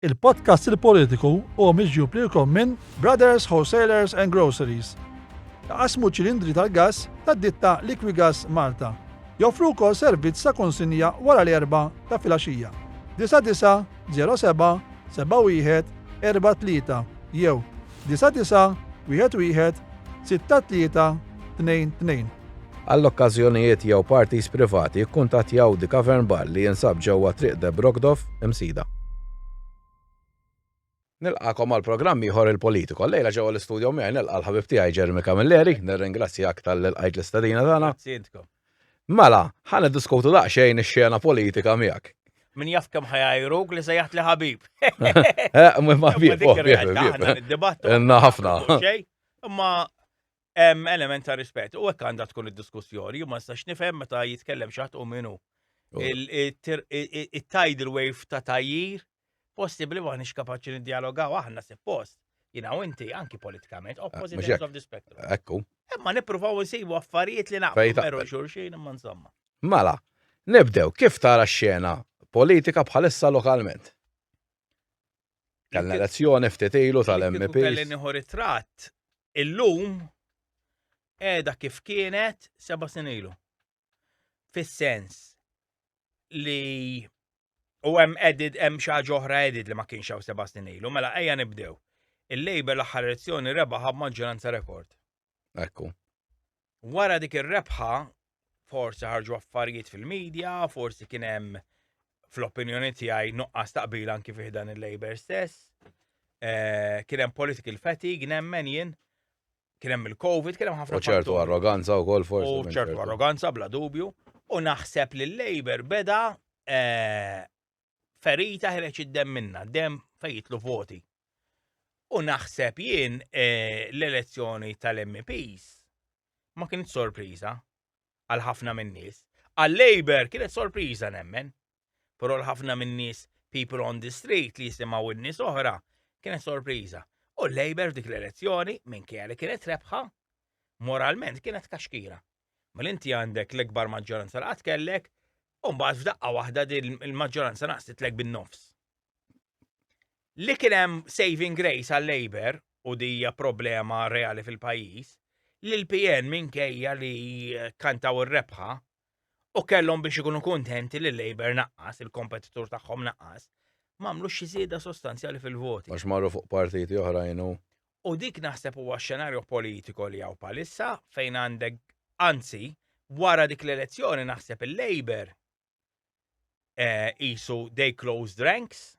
Il-podcast Il-Politiku huwa miġjub lilkom minn Brothers Wholesalers and Groceries. Iqassmu ċilindri tal-gass tad-ditta Liquigas Malta. Joffru wkoll servizz ta' konsinja wara l-erbgħa ta' filgħaxija. 9907 71 43 jew Disa' disa', wieħed wieħed, sitta tlieta, tnejn tnejn. Għal okkażjonijiet jew parties privati ikkuntattjaw The Cavern Bar li jinsab ġewwa Triq De Brogdov, Imsida. Nilqagħkom għal programm ieħor Il-Politico. Llejla ġewwa l-istudio miegħi nilqa' l-ħabib tiegħi Jeremy Camilleri. Nirringrazzjak talli lqajt l-istedina tagħna. Grazzi intkom. Mela, ħa niddiskutu daqsxejn ix-xena politika miegħek. Min jaf kemm ħajajruk li sejjaħt li ħabib. Eh, ma bib, Inna ħafna. Imma hemm element ta' rispett u hekk għandha tkun id-diskussjoni, ma nistax nifhem meta jitkellem xaħt u minu. Il-tidal wave ta' tajjir possibbli m'aħniex kapaċi niddialogaw aħna suppost, jina u inti anki politikament, opposite ends of the spectrum. Ekku. Imma nippruvaw nsibu affarijiet li naqblu xulxin imma insomma. Mela, nibdew kif tara x-xena politika bħalissa lokalment? Kellna elezzjoni ftit ilu tal-MP. Kelli nieħu ritratt illum qiegħda kif kienet seba' snin ilu. fis-sens li u hemm edit hemm xi ħaġa oħra edit li ma kienx hawn seba' snin ilu, mela ejja nibdew. Il-Labor l-aħħar elezzjoni rebaħa b'maġġoranza rekord. Ekku. Wara dik ir-rebħa, forsi ħarġu affarijiet fil-medja, forsi kien hemm fl-opinjoni tiegħi nuqqas taqbil anki fih dan il-Labor stess. Eh, kien hemm political fatigue nemmen jien kien hemm il-Covid, kien hemm ħafna. U ċertu arroganza u kol forsi. U ċertu arroganza bla dubju. U naħseb li l-Labor beda eh, ferita ħreċ id-dem minna, dem fejtlu voti. U naħseb jien eh, l-elezzjoni tal-MPs ma kienet sorpriża għal ħafna minn nies. Għal-Labor kienet sorpriża nemmen, Però l-ħafna min-nies people on the street li jisimgħu n-nies oħra kienet sorpriża. U l-Labour f'dik l-elezzjoni, minkejja li kienet rebħa, moralment kienet kaxkira. Mela inti għandek l-ikbar maġġoranza li qatt kellek, u mbagħad f'daqqa waħda din il-maġġoranza naqsitlek bin-nofs. Li kien hemm saving grace għal Labour u dija problema reali fil-pajjiż, li l-PN minkejja li kantaw ir-rebħa U kellhom biex ikunu kuntenti li Labour naqqas, il-kompetitur tagħhom naqqas, m'għamlux xi żieda sostanzjali fil-voti. Għax marru fuq partiti oħrajn u. U dik naħseb huwa x-xenarju politiko li hawn bħalissa fejn għandek anzi wara dik l-elezzjoni naħseb il-Labour qisu they closed ranks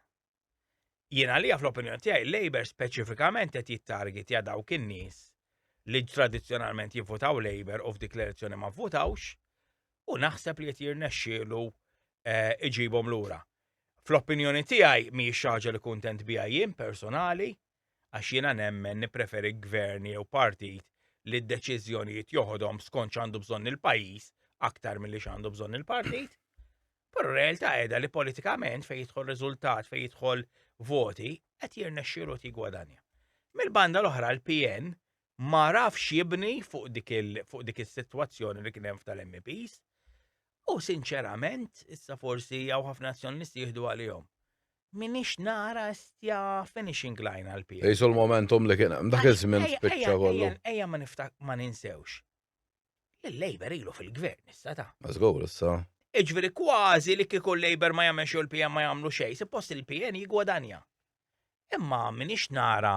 Jien għalija fl-opinjoni tiegħi Labour speċifikament qed jittargetja dawk in-nies li tradizzjonalment jivvutaw Labour u f'dik l-elezzjoni ma vvutawx u naħseb li qed jirnexxielu eh, iġibhom lura. Fl-opinjoni tiegħi mhijiex ħaġa li kuntent biha jien personali għax jiena nemmen nippreferi gvern jew partit li d-deċiżjonijiet joħodhom skont x'għandu bżonn il-pajjiż aktar milli x'għandu bżonn il-partit. Però r-realtà qiegħda li politikament fejn jidħol riżultat, fejn jidħol voti, qed jirnexxielu qed jigwadanja. Mill-banda l-oħra l-PN ma rafx jibni fuq dik is-sitwazzjoni li kien hemm tal-MPs u sinċerament issa forsi jew ħafna nazzjonalisti jieħdu għalihom. Minix nara stja finishing line għal-PN. Jisu l-momentum li kien hemm dak iż-żmien spiċċa kollu. Ejja ma niftaq ma ninsewx Il-Labour ilu fil-gvern issa ta'. Mażgur issa. Iġveri kważi li kieku l-Labour ma jagħmel xogħol PM ma jagħmlu xejn, suppost il-PN jigwadanja. Imma minix nara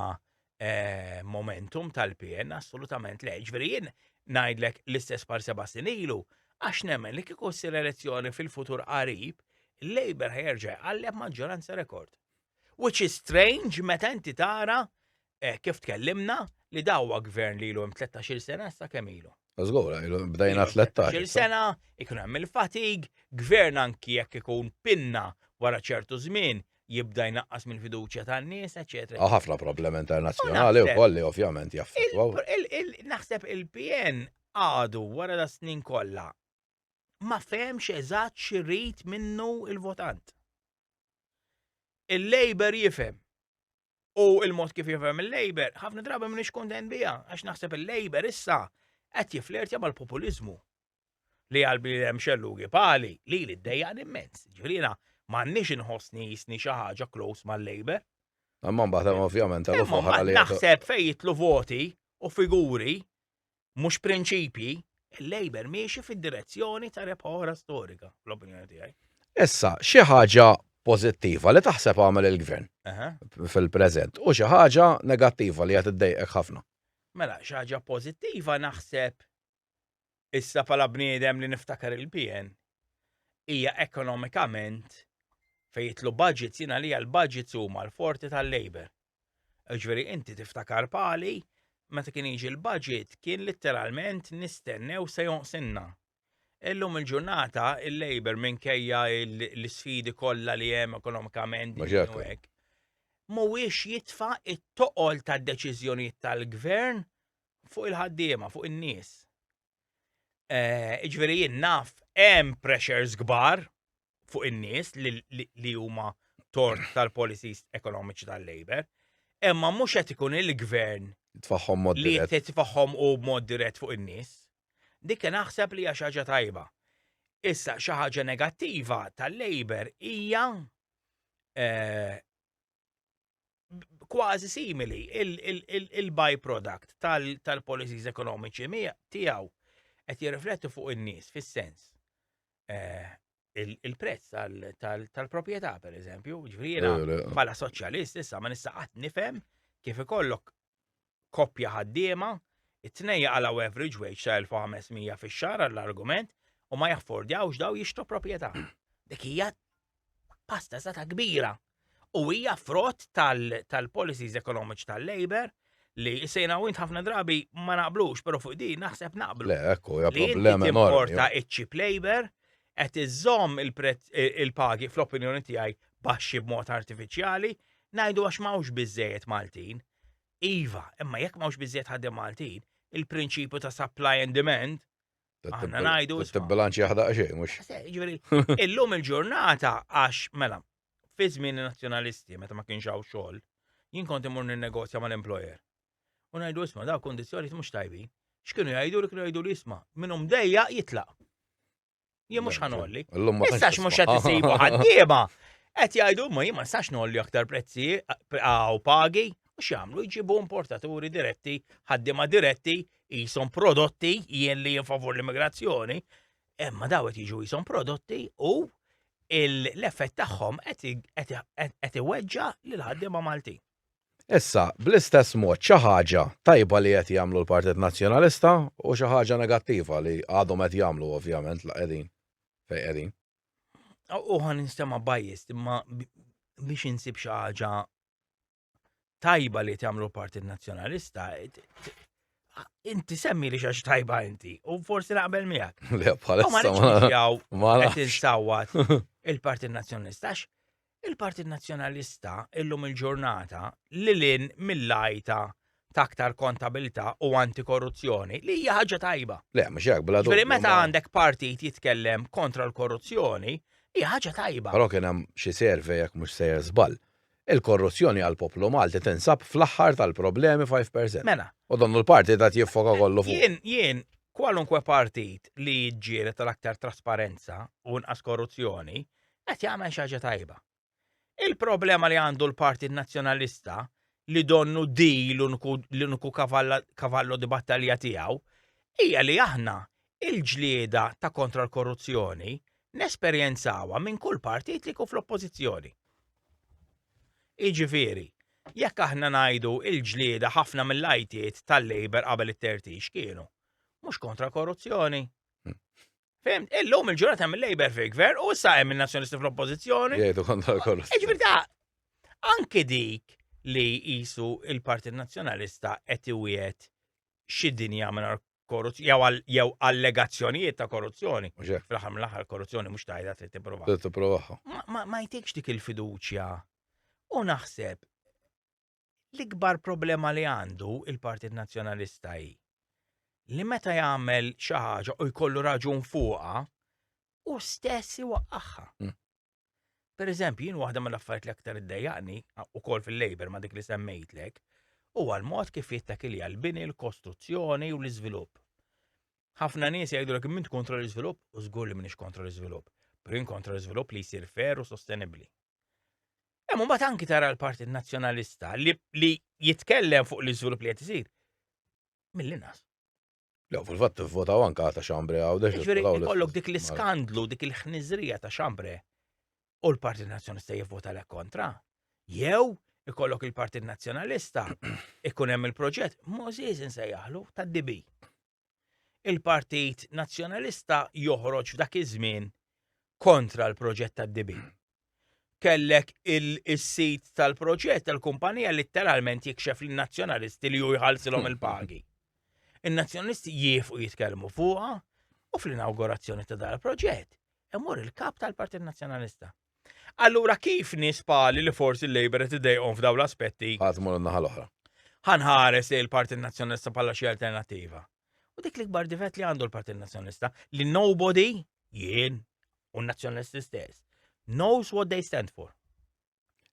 eh, momentum tal-PN assolutament le, ġveri jien ngħidlek l-istess par seba' ilu għax nemmen li kieku ssir elezzjoni fil-futur qarib, il-Labour ħerġa għalleb maġġoranza rekord. Which is strange meta inti tara eh, kif tkellimna li dawwa gvern li ilu hemm 13-il sena sa kemm ilu. Żgur, bdejna 13. sena, ikun hemm il-fatig, gvern anki jekk ikun pinna wara ċertu żmien jibda jnaqqas mill-fiduċja tan-nies, eċetera. Hawn ħafna problemi internazzjonali wkoll li ovvjament jaffettwaw. Naħseb il-PN għadu wara da snin kollha ma fehemx eżatt xi rid minnu il-votant. Il-Labour jifhem u il-mod kif jifhem il-Labour ħafna drabi m'iniex kuntent biha għax naħseb il-Labour issa qed jiflirtja mal-populiżmu li għalbi hemm xellugi pali li li ddejjaq immens. Ġifieri m'għandniex inħossni jisni xi ħaġa close mal-Labour. Imma mbagħad hemm ovvjament għal oħra li. Naħseb fejn jitlu voti u figuri mhux prinċipji, il-Labour miexi fid-direzzjoni ta' rebħora storika, l-opinjoni tiegħi. Issa, xi ħaġa pożittiva li taħseb għamel il-gvern fil-preżent u xi ħaġa negattiva li qed iddejqek ħafna. Mela, xi ħaġa pożittiva naħseb issa pala bniedem li niftakar il-PN hija ekonomikament fejn jitlu budgets jiena li l-budgets huma l-forti tal-Labor. Ġveri inti tiftakar pali, meta kien jiġi l-budget kien litteralment nistennew se jonqsinna. Illum il-ġurnata il-Labour minkejja l-sfidi kollha li hemm ekonomikament u hekk. Mhuwiex jitfa' it-toqol tad-deċiżjonijiet tal-gvern fuq il-ħaddiema, fuq in-nies. Iġveri eh, jien naf hemm pressures kbar fuq in-nies li huma tort tal-policies ekonomiċi tal-Labor, imma mhux qed ikun il-gvern tfaħħom mod li qed tfaħħom u mod dirett fuq in-nies. Dik naħseb li hija xi ħaġa tajba. Issa xi ħaġa negattiva tal-Labor hija eh, kważi simili il-byproduct tal-policies ekonomiċi tiegħu qed jirrifletti fuq in-nies fis-sens eh, il-prezz tal-proprjetà pereżempju, ġifieri bħala soċjalist issa ma nista' qatt nifhem kif ikollok koppja ħaddiema, it-tnejn jaqalgħu average wage ta' 1500 fix-xahar għall-argument u ma jaffordjawx daw jixtru proprjetà. Dik hija pasta sata kbira u hija frott tal-policies tal ekonomiċi tal-Labor li sejna u ħafna drabi ma naqblux, pero fuq din naħseb naqblu. Le, ekku, hija problema enormi. Li importa iċ-chip labor qed iżżomm il-pagi fl-opinjoni tiegħi baxxi b'mod artifiċjali, ngħidu għax m'hawnx biżejjed Maltin. Iva, imma jekk m'hawnx biżejjed ħadem Maltin, il-prinċipju ta' supply and demand Aħna ngħidu. Tibbilanċi jaħda xejn, mhux. Ġifieri, illum il-ġurnata għax mela, fi żmien nazzjonalisti meta ma kienx hawn xogħol, jien kont imur ninnegozja mal-employer. u ngħidu isma' daw kondizzjonijiet mhux tajbi. X'kienu jgħidu li kienu jgħidu li isma' minnhom dejja jitlaq. Jien mhux ħanolli. Issa mhux qed isibu ħaddiema. Qed jgħidu ma jien ma nistax nolli aktar prezzi għaw pagi u x'jagħmlu jġibu importaturi diretti, ħaddiema diretti, jisom prodotti jien li favur l-immigrazzjoni, imma daw qed jiġu jisom prodotti u l-effett tagħhom qed iweġġa lil ħaddiema Maltin. Issa, bl-istess mod, xi ħaġa tajba li qed jagħmlu l-Partit Nazzjonalista u xi ħaġa negattiva li għadhom qed jagħmlu ovvjament la qegħdin fejn qegħdin. U ħa ninstema' biased imma biex insib xi ħaġa tajba li qed jagħmlu l-Partit Nazzjonalista inti semmi li xax tajba inti, u forsi naqbel miegħek. Le, bħalissa ma nafx. Qed insawwat il-Partit Nazzjonalista Il-Partit Nazzjonalista illum il-ġurnata li lin mill-għajta ta' aktar kontabilità u antikorruzzjoni li hija ħaġa tajba. Le, mhux hekk bla dubju. Meta għandek partit jitkellem kontra l-korruzzjoni, hija ħaġa tajba. Però kien hemm xi survey jekk mhux sejjer żball. Il-korruzzjoni għall-poplu Malti tinsab fl-aħħar tal-problemi 5%. Mela. U donnu l-partit qed jiffoka kollu fuq. Jien, jien, kwalunkwe partit li jiġġieled tal-aktar trasparenza u nqas korruzzjoni, qed jagħmel xi ħaġa tajba. Il-problema li għandu l-Partit Nazzjonalista li donnu di l-uniku kavallo di battalja tiegħu hija li aħna il-ġlieda ta' kontra l-korruzzjoni nesperjenzawa minn kull partit li jkun fl-oppożizzjoni. Iġifieri, jekk aħna ngħidu il-ġlieda ħafna mill-ajtiet tal-Labor qabel it-tertix kienu mhux kontra korruzzjoni. Hmm. Fem, illum il-ġurnata hemm il-Labor fil gvern u issa hemm il-Nazzjonisti fl-Oppożizzjoni. Jgħidu kontra kollu. Ġifieri ta' anke dik li jisu il-Partit Nazzjonalista qed iwiet xi dinja mingħajr korruzzjoni jew allegazzjonijiet ta' korruzzjoni. Fl-aħħar mill-aħħar korruzzjoni mhux tajda trid tipprova. Trid tipprova. Ma jtikx dik il-fiduċja. U naħseb L-ikbar problema li għandu il-Partit Nazzjonalista hi li meta jagħmel xi ħaġa u jkollu raġun fuqha, u stess iwaqqaħħa. Mm. Per eżempju, jien waħda mill-affarijiet li aktar iddejjaqni ukoll fil-labor ma dik li semmejtlek, huwa l-mod kif jittak li għal-bini, l-kostruzzjoni u l-iżvilupp. Ħafna nies jgħidu l minn kontra l-iżvilupp u żgur li minix kontra l-iżvilupp, pero jien kontra l-iżvilupp li jsir fer u sostenibbli. Hemm imbagħad anki tara l-Partit Nazzjonalista li, li jitkellem fuq l-iżvilupp li qed isir. Mill-inqas. Lew fil-fatt tivvotaw anke ta' xambre għawdex. Ġifieri ikollok dik l-iskandlu, dik il-ħniżrija ta' xambre u l-Partit Nazzjonalista jivvota lek kontra. Jew ikollok il-Partit Nazzjonalista ikun hemm il-proġett Moses insejjaħlu tad-DB. il-Partit Nazzjonalista joħroġ f'dak iż-żmien kontra l-proġett tad-dibi. Kellek il-sit tal-proġett tal-kumpanija litteralment jikxef lin nazzjonalisti li ju jħallsilhom il-pagi. In-nazzjonalisti jiefu jitkellmu fuqha u fl-inaugurazzjoni ta' dal-proġett imur il-kap tal-Partit Nazzjonalista. Allura kif nies bħali li forsi l-Labour qed idejqhom f'dawn l-aspetti. Ħadd imur in-naħa l-oħra. Ħa nħares lejn il-Partit Nazzjonalista bħala xi alternattiva. U dik l-ikbar difett li għandu l-Partit Nazzjonalista li nobody, jien u n-Nazzjonalisti stess, knows what they stand for.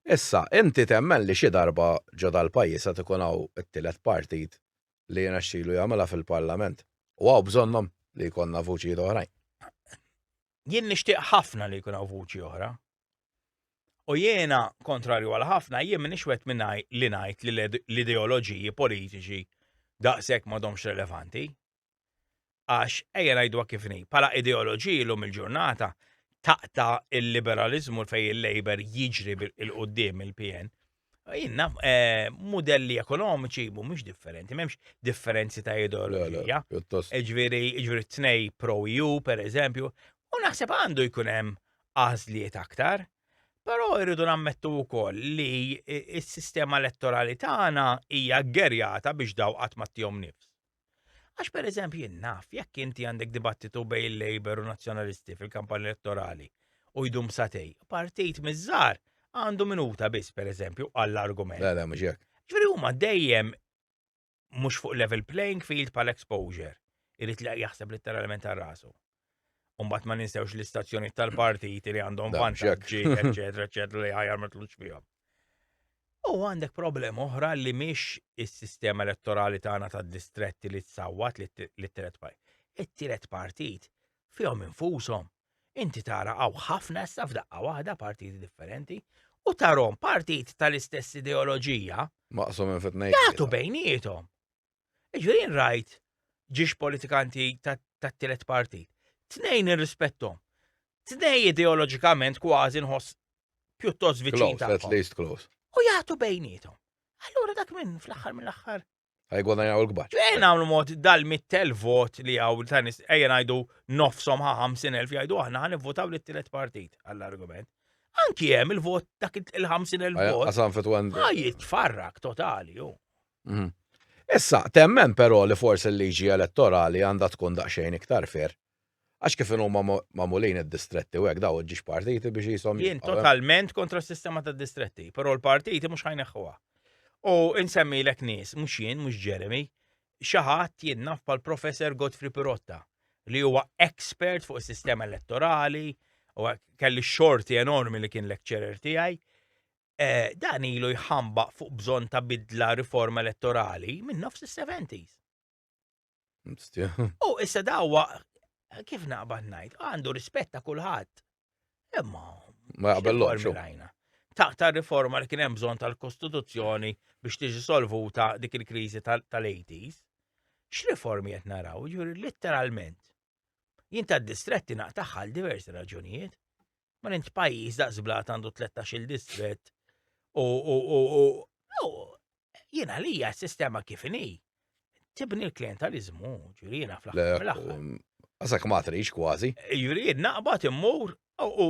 Issa, inti temmen li xi darba ġo dal-pajjiż qed ikun hawn it-tielet partit li jiena xilu jagħmilha fil-Parlament. U hawn bżonnhom li jkollna vuċijiet oħrajn. jien nixtieq ħafna li jkun hawn vuċi oħra. U jiena, kontrarju għal ħafna, jien minix wet minnaj li ngħid li l-ideoloġiji politiċi daqshekk m'għadhomx relevanti. Għax ejja ngħidwa kif ni, bħala ideoloġiji lum il-ġurnata taqta il-liberalizmu fejn il-Labor jiġri il-qudiem il-PN, Jien naf, eh, modelli ekonomiċi mhumiex differenti, m'hemmx differenzi ta' ideoloġija. Pjuttost. Ġviri, ġviri tnej pro EU, per eżempju, u naħseb għandu jkun hemm għażliet aktar. Però irridu nammettu wkoll li i- s-sistema elettorali tagħna hija gerjata biex daw qatt ma tihom nifs. Għax per eżempju jien naf, jekk inti għandek dibattitu bej il-Labor u Nazzjonalisti fil-kampanja elettorali u jdum satej, partit mizzar għandu minuta biss per eżempju għall-argument. La, la, mhux hekk. Ġifieri huma dejjem mhux fuq level playing field pal exposure. Irid li jaħseb letteralment għal rasu. Umbat ma ninsewx l-istazzjonijiet tal-partiti li għandhom Da, vantaġġi, ġek. eċetera, eċetera, li ħajar ma tlux fihom. U għandek problema oħra li mhix is-sistema elettorali tagħna tad-distretti li tsawwat li t- li t-tielet partit. It-tielet partit fihom infushom. Inti tara hawn ħafna issa f'daqqa waħda partiti differenti u tarhom partit tal-istess ideoloġija Maqsum minn fitnejn. jagħtu bejniethom. Jiġifieri jien rajt ġiex politikanti tat-tielet partit. Tnejn irrispettom. Tnej ideoloġikament kważi nħoss pjuttost viċin tagħhom. U jagħtu bejnietom. Allura dak minn fl-aħħar mill-aħħar. Għajgħuna jgħu l-kbar. Ġejn għamlu mod dal-mittel vot li għaw tanis ejja ngħidu nofsom ħa 50,000 jgħidu aħna ħan votaw li t-tielet partit għall-argument. Anki hemm il-vot dak il-50,000 vot. Għasan fit Għajit farrak totali ju. Mhm. Issa, temmen però li forsi l-liġi elettorali għandha tkun daqsxejn iktar fer. Għax kif huma magħmulin id-distretti u hekk daw ġiex partiti biex jisom. Jien totalment kontra s-sistema ta' distretti, però l-partiti mhux ħajneħħuha. U insemmi l nies, mhux jien, mhux Jeremy, xaħat jien naf pal professor Godfrey Pirotta li huwa expert fuq is-sistema elettorali u kelli xorti enormi li kien lecturer tiegħi dan ilu jħambaq fuq bżonn ta' bidla riforma elettorali minn nofs is-70s. U issa dawa kif naqbad ngħid, għandu rispett ta' kulħadd. Imma ma jaqbellhomx. Ta' ta' riforma li kien hemm bżonn tal-Kostituzzjoni biex tiġi solvuta dik il-kriżi tal-80s. X'riformi qed naraw, ġuri litteralment. Jien ta' distretti naqtaħħa għal diversi raġunijiet. Ma nint pajjiż daqs blat għandu 13 distrett u jien għalija s-sistema kif inhi. Tibni l-klientalizmu, ġuri jiena fl-aħħar. Għasak ma trix kważi. Ġuri jien naqbad immur u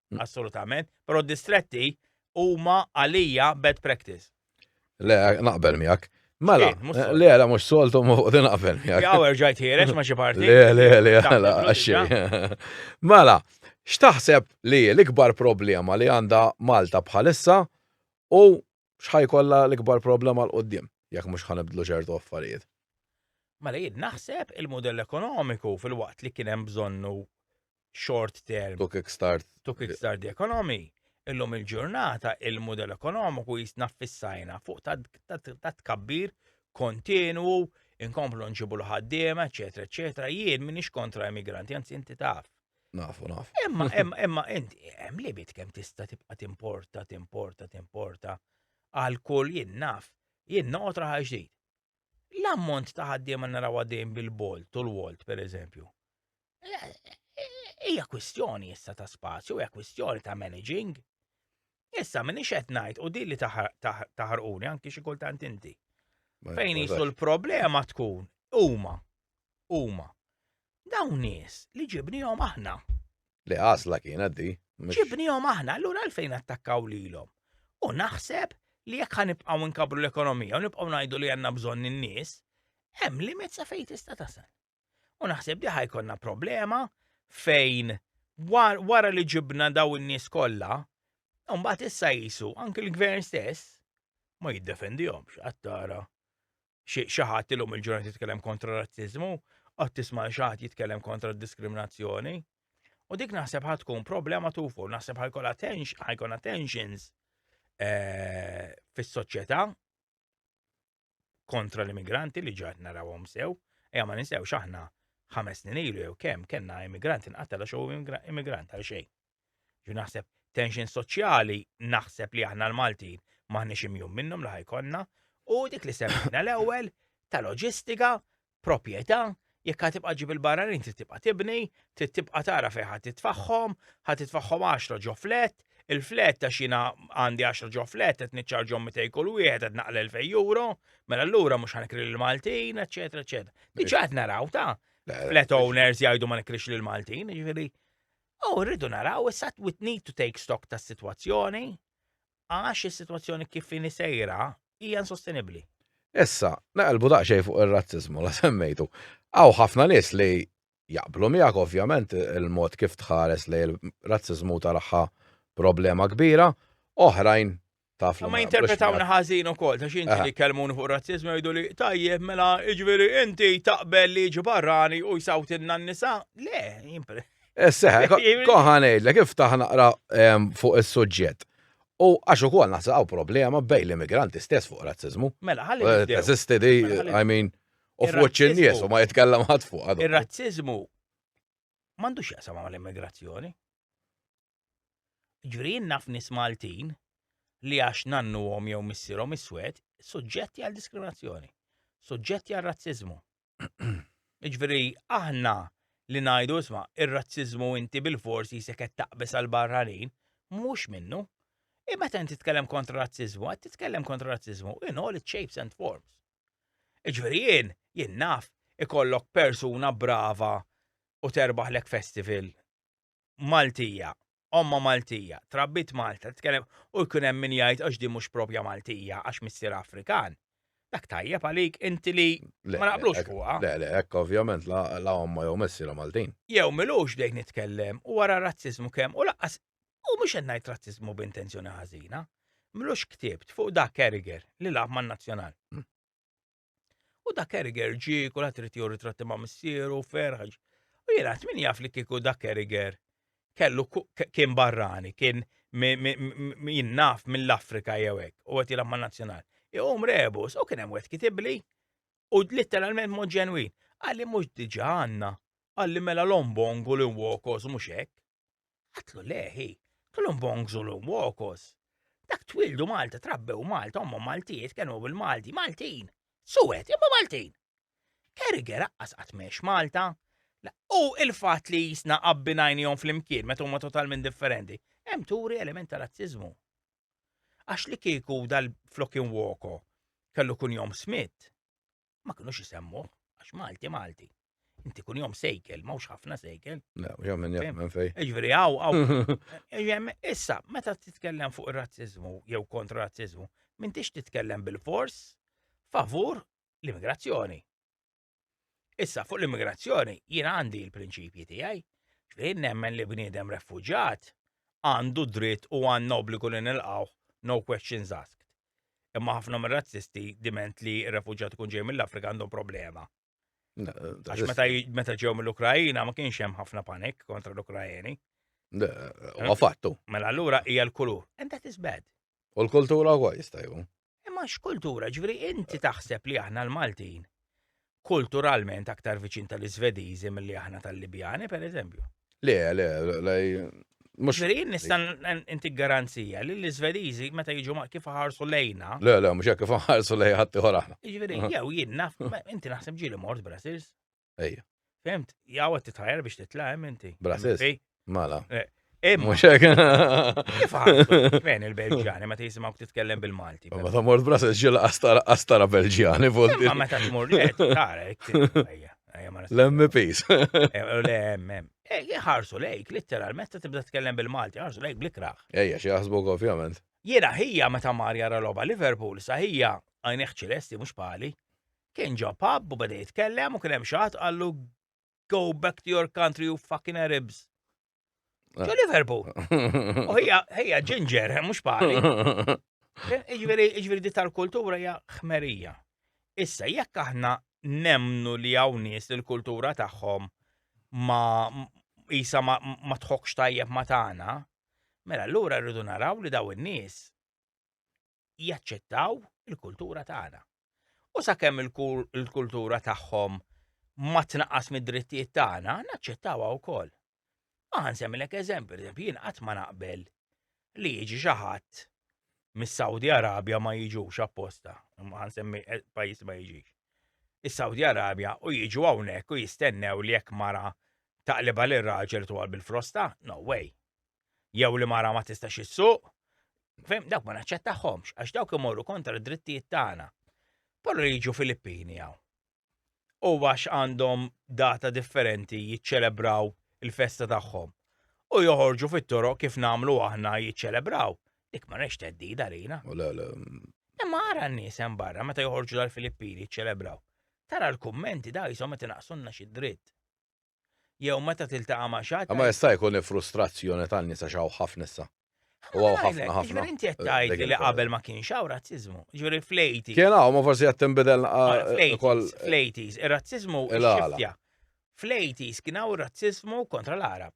assolutament, però distretti huma għalija bad practice. Le, naqbel miegħek. Mela, le, le, mux soltu mu li naqbel miegħek. Jaw erġajt ħierex ma xi parti. Le, le, le, għala, għaxxi. Mela, x'taħseb li l-ikbar problema li għandha Malta bħalissa u x'ħa jkollha l-ikbar problema 'l quddiem jekk mhux ħa nibdlu ċertu affarijiet. Mela jien naħseb il-mudell ekonomiku filwaqt li kien hemm bżonnu short term. To kick start. To kick start the economy. Illum il-ġurnata il-mudell ekonomiku jisna fissajna fuq ta' tkabbir kontinwu, inkomplu nġibu l-ħaddiema, eċetera, eċetera. Jien minix kontra immigranti, anzi inti taf. Nafu, nafu. Imma, imma, imma, inti, hemm limit kemm tista' tibqa' timporta, timporta, timporta għal kull jien naf, jien noqgħod raħal ġdid. L-ammont ta' ħaddiema naraw għaddejn bil-bolt u l-wolt, per eżempju. Hija kwistjoni issa ta' spazju, hija kwistjoni ta' managing. Issa minn ixed ngħid u din li taħarquni anki xi kultant inti. Fejn jisu l-problema tkun huma huma Dawn nies li ġibnihom aħna. Li għasla kienet di. Ġibnihom aħna, allura għalfejn attakkaw lilhom. U naħseb li jekk ħanibqgħu nkabru l-ekonomija u nibqgħu ngħidu li għandna bżonn in-nies, hemm limit sa fejn tista' tasal. U naħseb li ħajkonna problema fejn wara li ġibna daw in-nies kollha, mbagħad issa jisu anke l-gvern stess ma jiddefendihomx għattara xi ħadd illum il-ġurnata jitkellem kontra r-razziżmu, qatt tisma' xi ħadd jitkellem kontra d-diskriminazzjoni. U dik naħseb ħad tkun problema tufu, naħseb ħajkun ħajkun tensions eh, fis-soċjetà kontra l-immigranti li ġaħt narawhom sew, ejja ma ninsewx aħna ħames snin ilu jew kemm kellna immigranti nqatel għax immigrant għal xejn. Ġu naħseb tension soċjali naħseb li aħna l-Maltin maħniex imjum minnhom li ħajkonna u dik li semmejna l-ewwel ta' loġistika, proprjetà, jekk ħad tibqa' ġib il-barranin trid tibqa' tibni, trid tibqa' tara fejn ħad titfaħħom, ħad titfaħħom 10 ġo flet, il-flet ta' xina għandi 10 ġo flet qed niċċarġhom 200 kull wieħed qed naqla 2000 euro, mela allura mhux ħanikri lil Maltin, eċetera, eċetera. Diġà qed naraw ta' flat owners jgħidu ma nikrix lil Maltin, jiġifieri U rridu naraw issa we need to take stock tas-sitwazzjoni għax is-sitwazzjoni kif inhi sejra hija insostenibbli. Issa, naqalbu daqsxejn fuq ir-razziżmu la semmejtu. Hawn ħafna nies li jaqblu miegħek ovvjament il-mod kif tħares li l-razziżmu taraħħa problema kbira, oħrajn taf li. Ma jinterpretawna ħażin ukoll, ta' xinti li kelmuni fuq razzizmu jgħidu li tajjeb mela iġveri inti taqbel li ġi barrani u jisawtilna n-nisa. Le, jimpre. Esseħ, eh, koħanej, l kif taħ naqra ehm, fuq is-suġġett. U għax ukoll naħsaqgħu problema bej l-immigranti stess fuq razzizmu. Mela, ħalli. Eh, Teżisti di, mela, I mean, u fuq in-nies u ma jitkellem ħadd fuq. Ir-razzizmu m'għandux jaqsam mal-immigrazzjoni. Ġifieri jien naf nies Maltin li għax nannuhom jew missierhom iswed, suġġetti għal diskriminazzjoni, suġġetti għal razziżmu. Ġifieri aħna li ngħidu isma' ir-razziżmu inti bil-fors jisek qed taqbeż għal barranin, mhux minnu. I meta inti tkellem kontra razziżmu, qed titkellem kontra razziżmu in all its shapes and forms. Ġifieri jien, jien naf ikollok persuna brava u terbaħlek festival Maltija, ommha Maltija, trabbit Malta, titkellem u jkun hemm min jgħid għax din mhux propja Maltija għax missierha Afrikan. Dak tajjeb għalik inti li ma naqblux fuqha. Le, le, hekk ovvjament la ommha jew missierha Maltin. Jew milux bdejt nitkellem u wara razziżmu kemm u laqqas u mhux qed ngħid razziżmu b'intenzjoni ħażina. Milux ktibt fuq dak Carragher li lagħab man-Nazzjonal. U dak Eriger ġi, kulħadd irid jew ritratti ma' missieru, ferħaġ. U jien għat min jaf li kieku dak Eriger kellu kien barrani, kien min naf mill-Afrika jew hekk, u qed jilgħab man-nazzjonal. Iqum rebus u kien hemm wet kitibli u litteralment mod ġenwin. Għalli mhux diġà għandna, għalli mela lombongu li wokos mhux hekk. Għatlu leħi, kellhom bongżu l wokos. Dak twildu Malta, trabbew Malta, omma Maltijiet, kienu bil-Malti, Maltin. Suwet, imma Maltin. Kerger aqqas qatt Malta. U il-fat li jisna qabbinajni jom fl-imkien, meta huma totalment differenti, hemm turi element ta' razzizmu. Għax li kieku dal-flokin woko kellu kun jom Smith, ma kinux isemmuh, għax Malti Malti. Inti kun jom sejkel, mawx ħafna sejkel. Le, jom minn jom minn fej. Iġveri, għaw, għaw. Issa, meta titkellem fuq il-razzizmu, jew kontra razzizmu, minn tix titkellem bil-fors favur l-immigrazzjoni. Issa, fuq l-immigrazzjoni, jien għandi il-prinċipji tijaj, ġveri nemmen li bniedem refugġat għandu dritt u għanna obbligu li nilqaw no questions asked. Imma ħafna mir-razzisti diment li r-refuġjat ikun ġej mill-Afrika għandhom problema. Għax meta ġew mill-Ukrajina ma kienx hemm ħafna panik kontra l-Ukrajeni. Ma fattu. Mela allura hija l-kulur. And that is bad. U l-kultura huwa jista' jkun. Imma x'kultura, ġifieri inti taħseb li aħna l-Maltin kulturalment aktar viċin tal-Iżvediżi milli aħna tal-Libjani, per eżempju. Le, le, le, Mux. Verin nistan inti garanzija li l-Svedizi meta jiġu ma kif ħarsu lejna. Le, le, mux kif ħarsu lej ħatti ħorana. Ġveri, jaw jien naf, inti naħseb ġili mort Brasils. Ejja. Fimt, jaw għat titħajer biex titlaħem inti. Brasils. Mala. Eh, Imma. Fejn il-Belġjani meta jisimgħu titkellem bil-Malti. Ma ta' mort brasa ġil astara Belġjani volti. Ma meta tmur li tara L-MPs. L-MM. Ħarsu lejk, literalment ta' tibda tkellem bil-Malti, ħarsu lejk blikraħ. Ejja, xi jaħsbuk ovvjament. Jiena ħija meta mar jara logħba Liverpool sa ħija għajneħ ċilesti mhux pali. Kien ġo pub u beda jitkellem u kien hemm xi qallu go back to your country, you fucking Arabs. Ġo ah. Liverpool. U hija ġinġer, eh, mux pari. Eh, iġveri, iġveri di tal-kultura hija ħmerija. Issa, jekk aħna nemnu li hawn nies li l-kultura tagħhom ma isa ma, ma tħokx tajjeb ma tagħna, mela allura rridu naraw li daw in-nies jaċċettaw il-kultura tagħna. U sakemm il-kultura tagħhom ma tnaqqas mid-drittijiet tagħna, naċċettawha wkoll. Ma ħansemmilek eżempju, eżempju jien qatt ma naqbel li jiġi xi ħadd mis-Saudi Arabja ma jiġux apposta, ma ħansemmi eh, pajjiż ma jiġix. Is-Saudi Arabja u jiġu hawnhekk u jistennew li jekk mara taqliba lir raġel twal bil-frosta, no way. jew li mara ma tistax issuq, fem, dawk ma naċċettahomx, għax dawk imorru kontra d-drittijiet tagħna. Però li jiġu Filippini hawn. U għax għandhom data differenti jiċċelebraw il-festa tagħhom. U joħorġu fit-toro kif namlu aħna jiċċelebraw. Dik ma nex teddida lina. Imma għara n-nies hemm barra meta joħorġu dal-Filippini jiċċelebraw. Tara l-kummenti da jisom qed inaqsunna xi dritt. jew meta tiltaqa' ma' xi ħadd. Imma jista' jkun hi frustrazzjoni tan-nies għax hawn ħafna issa. U hawn ħafna ħafna. Jiġifieri inti qed tgħid li qabel ma kienx hawn razziżmu. Jiġifieri fl-80s. Kien hawn, ma forsi qed tinbidel ukoll. Fl-80s, ir-razziżmu x'xiftja. Fl-80s kien hawn ir-razziżmu kontra l-Għarab.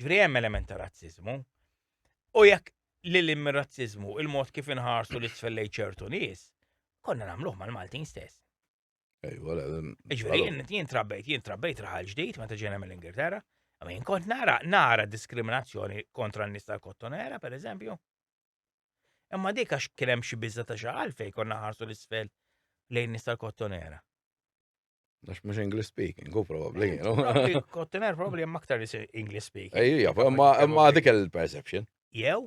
Ġifieri hemm element ta' razziżmu. U jekk li l razziżmu il-mod kif inħarsu li tfellej ċertu nies, konna nagħmluh mal-Maltin stess. Ejwa, Ġifieri jien trabbejt, jien trabbejt raħal ġdid meta ġejna mill-Ingilterra, Min kont nara, nara diskriminazzjoni kontra n-nis tal-kottonera, per eżempju. Imma dik għax kien hemm xi biża ta' xi għalfej konna ħarsu l-isfel lejn nis tal-kottonera. Għax mux English speaking, go probably. Kottiner probably jemma aktar li English speaking. Ejja, ma dik il-perception. Jew?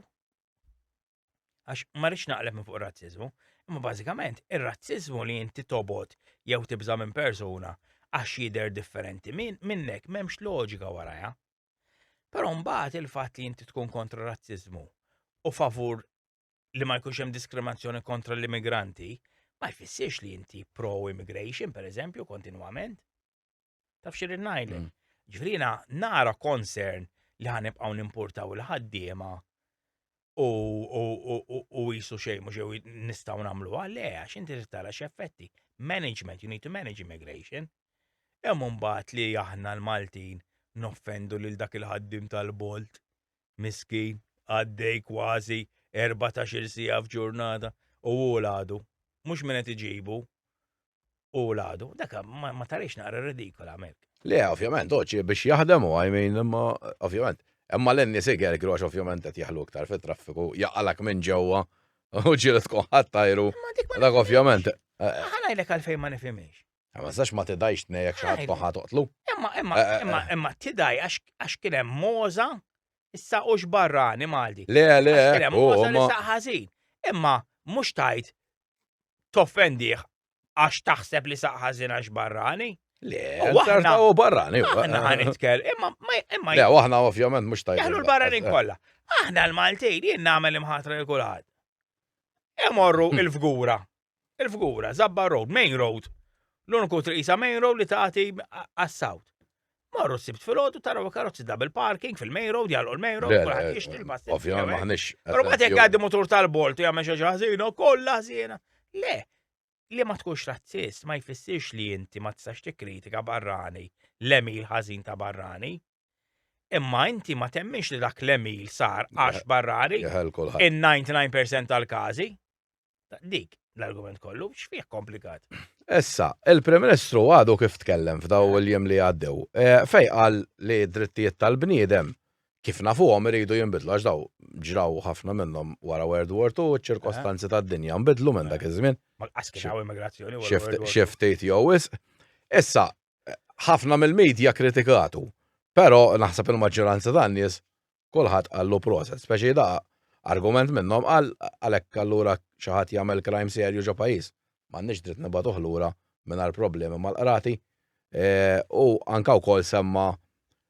Għax ma rix naqleb minn fuq razzizmu. Imma bażikament, ir-razzizmu li inti tobot jew tibża minn persuna għax jider differenti minnek memx loġika waraja. Però mbagħad il-fatt li inti tkun kontra razzizmu u favur li ma jkunx hemm diskriminazzjoni kontra l-immigranti ma jfissirx li inti pro-immigration, per eżempju, kontinwament. Taf xir najlek. Mm. Ġifrina, nara concern li ħanibqaw nimportaw il-ħaddiema u jisu xejn mhux jew nistgħu nagħmlu għale għax inti tara x'effetti. Management, you need to manage immigration. Hemm mbagħad li aħna l-Maltin noffendu lil dak il-ħaddim tal-bolt miskin, għaddej kważi erbatax-il siegħa f'ġurnata u hu l-għadu. Mhux min qed iġibu, hu l-għadu. Dak ma tarix naqra ridikola hemmhekk. Le, ovvjament, oċi biex jaħdem u għajmin, imma ovvjament. Imma l-enni siger għax ovvjament qed jaħlu iktar fit-traffiku, jaqalak minn ġewwa u ġieli tkun ħattajru. Dak ovvjament. Ħanajlek għalfejn ma nifhimiex. Ma nistax ma tidajx tnejjek xi ħadd toħħa toqtlu. Imma imma eh, eh, imma eh. imma tidaj għax kien hemm moża issa hux barrani Malti. Le le. Kien hemm moża li saq ħażin. Imma mhux tajt toffendih għax taħseb li saq ħażin għax barrani. Le, waħna u barrani. Aħna ħanitkell, imma imma. Le, waħna ovvjament mhux tajt. Jaħlu l-barranin kollha. Aħna l-Maltin jien nagħmel imħatra l kulħadd. Imorru il-fgura Il-figura, Zabba Road, main road. L-uniku triq isa main road li tagħti għas-south. Marru s-sibt fil-ħodu taraw karozzi double parking fil-main road, jgħalqu l-main road, kulħadd jixtri l-passi. Ovvjament maħniex. Però ma jekk għaddi motor tal-bolt jagħmel xi ħażina, kollha ħażina. Le, li ma tkunx razzist ma jfissirx li inti ma tistax tikkritika barrani l-emil ħażin ta' barrani. Imma inti ma temminx li dak l-emil sar għax barrari. In-99% tal-każi. Dik l-argument kollu, x'fih komplikat? Issa, il-Prim Ministru għadu kif tkellem f'daw il-jiem li għaddew. E, fej qal li d-drittijiet tal-bniedem kif nafuhom iridu jinbidlu għax daw ġraw ħafna minnhom wara World War II ċ-ċirkostanzi eh. tad-dinja nbidlu minn dak iż-żmien. Xi ftit jew wisq. Issa, ħafna mill-medja kritikatu, però naħseb il-maġġoranza tan-nies kulħadd qallu proset, speċi da argument minnhom qal għalhekk allura xi ħadd jagħmel crime serju ġo pajjiż m'għandniex dritt nibgħatuh lura mingħajr problemi mal-qrati u anke wkoll semma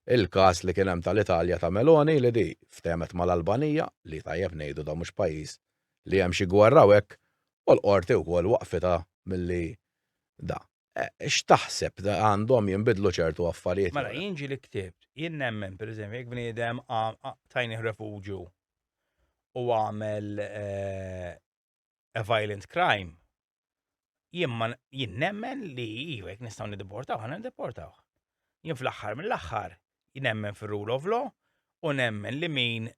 il-każ li kien hemm tal-Italja ta' Meloni li di ftehmet mal-Albanija li tajjeb ngħidu da mhux pajjiż li hemm xi gwerra u hekk u l-qorti wkoll waqfitha milli da. Eh, x'taħseb għandhom jinbidlu ċertu affarijiet? Mela, jien ġi li ktibt, jien nemmen, per eżempju, jek bniedem tajni refugju u għamel eh, a violent crime, jien nemmen li jivek nistaw nideportaw, għana nideportaw. Jien fl-axħar mill-axħar, jien nemmen fil-rule of law, u nemmen li min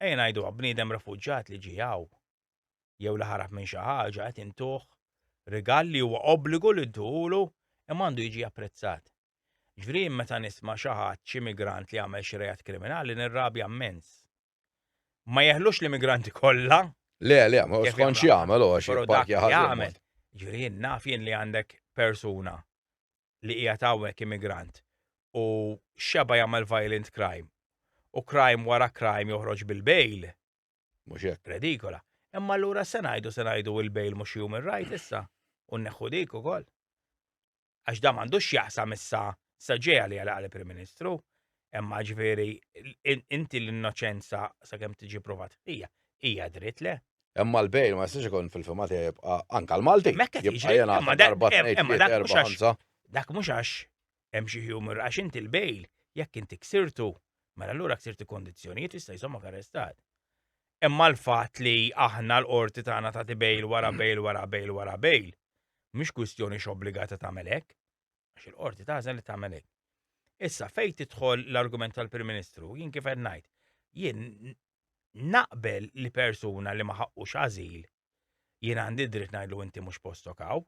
Ejja ngħiduha, bniedem refuġjat li ġie hawn, jew li ħarab minn xi ħaġa, qed intuh rigal li huwa obbligu li dduhulu imma għandu jiġi apprezzat. Ġifieri jien meta nisma' xi ħadd, xi migrant li għamel xi reat kriminali nirrabja mmens. Ma jeħlux l-immigranti kollha. Le, le, ma hu skont x'jagħmel hu għax jipparkja ħażin. Ġifieri jien naf jien li għandek persuna li qiegħed hawnhekk immigrant u x'xebgħa jagħmel violent crime u crime wara crime joħroġ bil-bail. Mhux hekk. Redikola. Imma allura x'se ngħidu, se ngħidu il-bail mhux human right issa u nneħħu dik ukoll? Għax dan m'għandux x'jaqsam issa sa ġej għalija laqgħa l-Prim Ministru. Imma ġifieri inti l-innoċenza sakemm tiġi provat hija hija dritt le. Imma l-bejl ma jistax ikun fil-fima tiegħi jibqa' anke l-Malti. Mekka tiġi imma dak mhux għax hemm xi humor għax inti l-bejl jekk inti ksirtu mela allura ksirti kondizzjonijiet jista' jżommok arrestat. Imma l-fatt li aħna l-qorti tagħna tagħti bejl wara bejl wara bejl wara bejl mhix kwistjoni x'obbligata tagħmel hekk. Għax il-qorti tażel li tagħmel hekk. Issa fejn tidħol l-argument tal-Prim Ministru, jien kif qed ngħid, jien naqbel li persuna li ma ħaqqux ażil jien għandi dritt ngħidlu inti mhux postok hawn.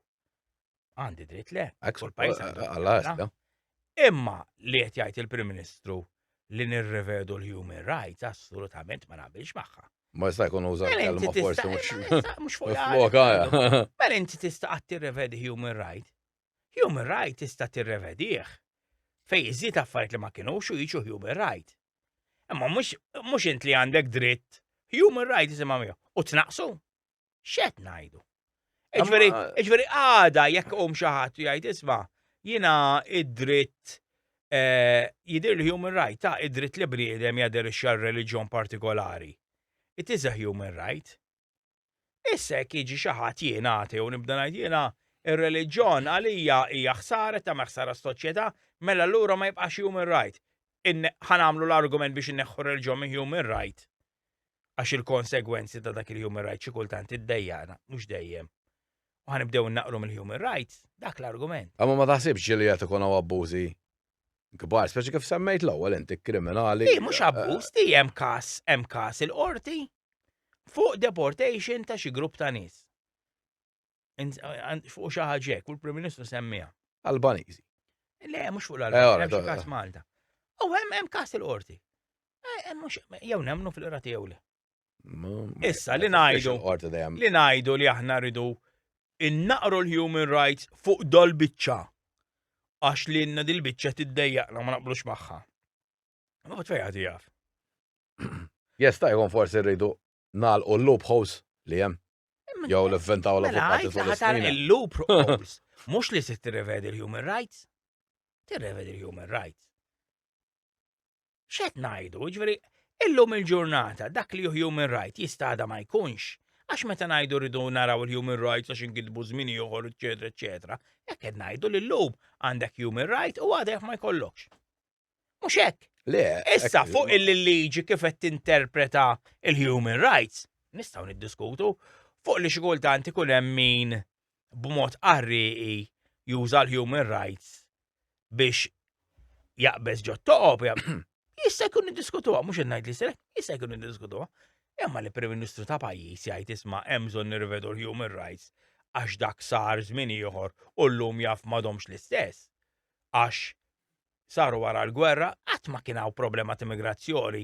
Għandi dritt le. Għaksu l-pajis għal Imma li qed jgħid il-Prim Ministru li nirrevedu l-human rights assolutament ma naqbilx magħha. Ma jista' jkun uża mela l-kelma forsi mhux mhux fuq. Mela inti tista' qatt tirrevedi human right. Human right tista' tirrevedih fej iżid affarijiet li ma kinux u jiġu human right. Imma mhux int li għandek dritt human right isimha miegħu u tnaqsu. X'qed ngħidu? Iġveri għada jekk qum xi ħadd jgħid isma' jiena id-dritt eh, jidir li human right ta' id-dritt li bniedem jaderixxa reliġjon partikolari. It is a human right. Issa jekk jiġi xi ħadd jien atej u nibda ngħid jiena r-reliġjon għalija hija ħsara qed tagħmel ħsara s-soċjetà, mela allura ma jibqax human right. Ħa nagħmlu l-argument biex inneħħu r-reliġjon minn human right għax il-konsegwenzi ta' dak il-human right xi kultant iddejjaqna, mhux dejjem. U ħanibdew innaqru mill-human rights, dak l-argument. Imma ma taħsibx ġieli qed ikun hawn abbużi kbar, speċi kif semmejt l-ewwel inti kriminali. Di mhux abbuż, di hemm każ, hemm każ il-qorti fuq deportation ta' xi grupp ta' nies. Fuq xi ħaġa hekk, u l-Prim Ministru semmiha. Albaniżi. Le, mhux fuq l-Albaniżi, hemm xi każ Malta. U hemm hemm każ il-qorti. Jew nemmnu fil-qrati jew le. Issa li ngħidu li ngħidu li aħna rridu innaqru l-human rights fuq dol biċċa għax li jenna dil-biċċa tiddejjaqna ma naqblux magħha. Ma bat fejn ħati jaf. Jesta' jkun forsi rridu nagħlqu l-loopholes li hemm. Jew l vventaw la mela, fuq fuq l-isfina. Il-loop rules, mux li se tirrevedi l-human rights, tirrevedi l-human rights. X'qed ngħidu? Jiġifieri illum il-ġurnata dak li human right jista' għada ma jkunx. Għax meta ngħidu rridu naraw il-human rights għax inkitbu żmien ieħor, eċetera, eċetera, hekk qed ngħidu li llum għandek human right u għadek ma jkollokx. Mhux hekk. Le. Issa fuq il-liġi kif qed tinterpreta il-human rights, nistgħu niddiskutu fuq li xi kultant ikun hemm min b'mod qarrieqi juża l-human rights biex jaqbeż ġo toqob, jista' jkun niddiskutuha, mhux qed ngħid li se, jista' jkun niddiskutuha. Imma li Prim Ministru ta' pajjiż jgħid isma' hemm bżonn nirvedu l-human rights għax dak sar żmien ieħor u llum jaf m'għadhomx l-istess. Għax saru wara l-gwerra qatt ma kien hawn problema ta' immigrazzjoni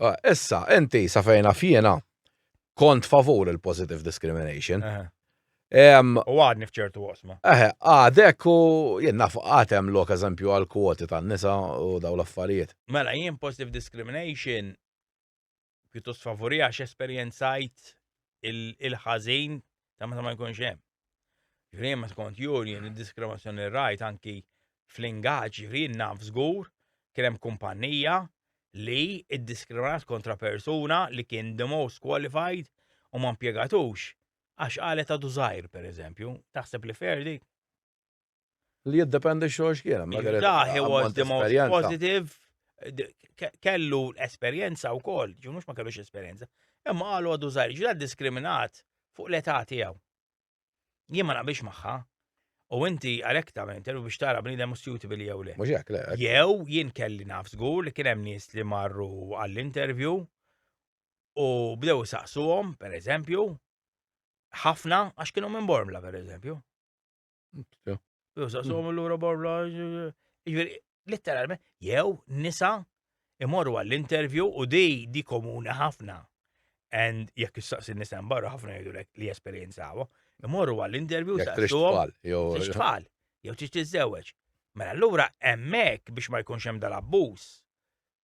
Eh, issa, inti sa fejn naf jiena kont favur il-positive discrimination. U għadni fċertu għosma. Eħe, għadek u jien naf għatem lok eżempju għal kwoti tan nisa u daw l-affarijiet. Mela, jien positive discrimination pjuttost favori għax esperienzajt il-ħazin ta' meta ma jkunx hemm. Ġifieri ma skont juri id-diskriminazzjoni rajt anki fl-ingaġġ ġifieri naf żgur kien hemm kumpannija li iddiskriminat kontra persuna li kien the most qualified u ma mpjegatux għax qalet għadu żgħir pereżempju. Taħseb li fair dik? Li jiddependi xogħol x'kien. Da, he was the most positive. Kellu esperjenza u koll, ġu mux ma kellux esperjenza. Imma għalu għadu zaħir, ġu diskriminat fuq l-età tiegħu. Jien ma naqbix magħha. U inti għalek ta' minn terru biex tara bnidem u suitable jew le. Mux jek, le. Jew jien kelli naf zgur li kien hemm nies li marru għall-interview u bdew saqsuhom, per eżempju, ħafna għax kienu minn Bormla, per eżempju. Jusa, so mm. l-ura borla, ġviri, letteralment, jew nisa imorru għall-intervju u di di komuni ħafna. And jekk jistaqsi nisa barra ħafna jgħidu li jesperienzawa, imorru għall-intervju saqsuhom. Trix tfal, jew trix tiżewġ. Mela allura hemmhekk biex ma jkunx hemm dal-abbuż.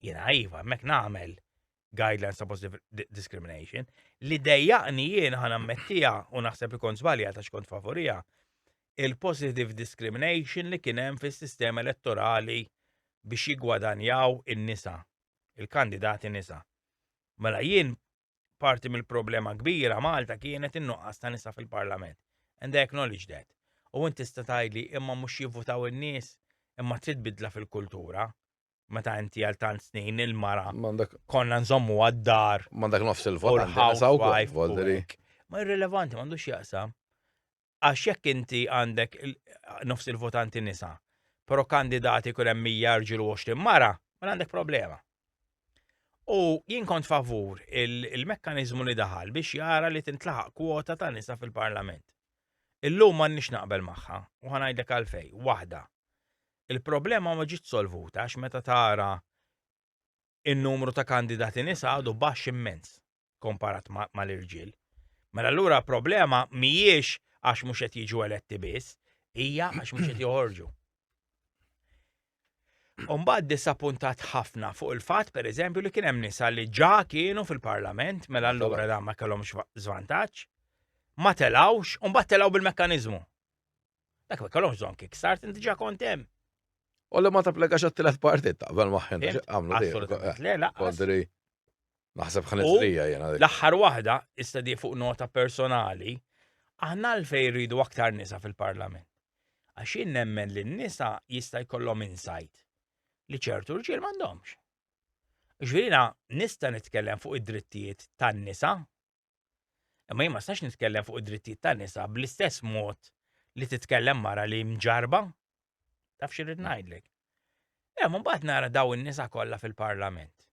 Jiena iva, hemmhekk nagħmel guidelines ta' positive discrimination, li dejjaqni jien ħana mettija u naħseb li kont zbalja ta' xkont favorija, il-positive discrimination li kienem fis sistema elettorali biex jigwadanjaw in-nisa, il-kandidati nisa. Mela jien parti mill-problema kbira Malta kienet in-nuqqas ta' nisa fil-parlament. And I acknowledge that. U inti tista' tgħidli imma mhux jivvutaw in-nies, imma trid bidla fil-kultura. meta inti għal tant snin il-mara konna nżommu għad-dar. Mandak nofs il-vot Ma irrelevanti, mandu xieqsa. Għax jekk inti għandek nofs il-votanti nisa, pero kandidati kun hemm mija rġilu 20 mara, ma mela għandek problema. U jien kont favur il-mekkanizmu li daħal biex jara li tintlaħaq kwota ta' nisa fil-parlament. Illum ma nix naqbel maħħa, u ħanajdek għalfej, wahda. Il-problema ma ġietx solvuta għax meta tara n-numru ta' kandidati nisa għadu baxx immens komparat mal-irġiel. Mela allura l-problema mhijiex għax mhux qed jiġu eletti biss, hija għax mhux qed joħorġu. Umbagħad disappuntat ħafna fuq il-fatt pereżempju li kien hemm nisa li ġa kienu fil-Parlament mela allura dan ma kellhomx żvantaġġ, ma telgħux, umbagħad telgħu bil-mekkaniżmu. Dak ma kellhomx bżonn kickstart, inti ġa kont hemm. U li ma tapplikax għat-tielet parti taqbel maħħen għamlu Assolutament, le, la. Kodri, naħseb ħanizrija jena. L-aħħar waħda, issa di fuq nota personali, aħna l-fej rridu aktar nisa fil-parlament. Għaxin nemmen li n-nisa jista' jkollhom insight li ċertu rġiel m'għandhomx. Ġvirina, nista' nitkellem fuq id-drittijiet tan-nisa Imma jien ma nistax nitkellem fuq id-drittijiet tan-nisa bl-istess mod li titkellem mara li mġarba. Taf xirrid ngħidlek. Hemm imbagħad nara daw in-nisa kollha fil-Parlament.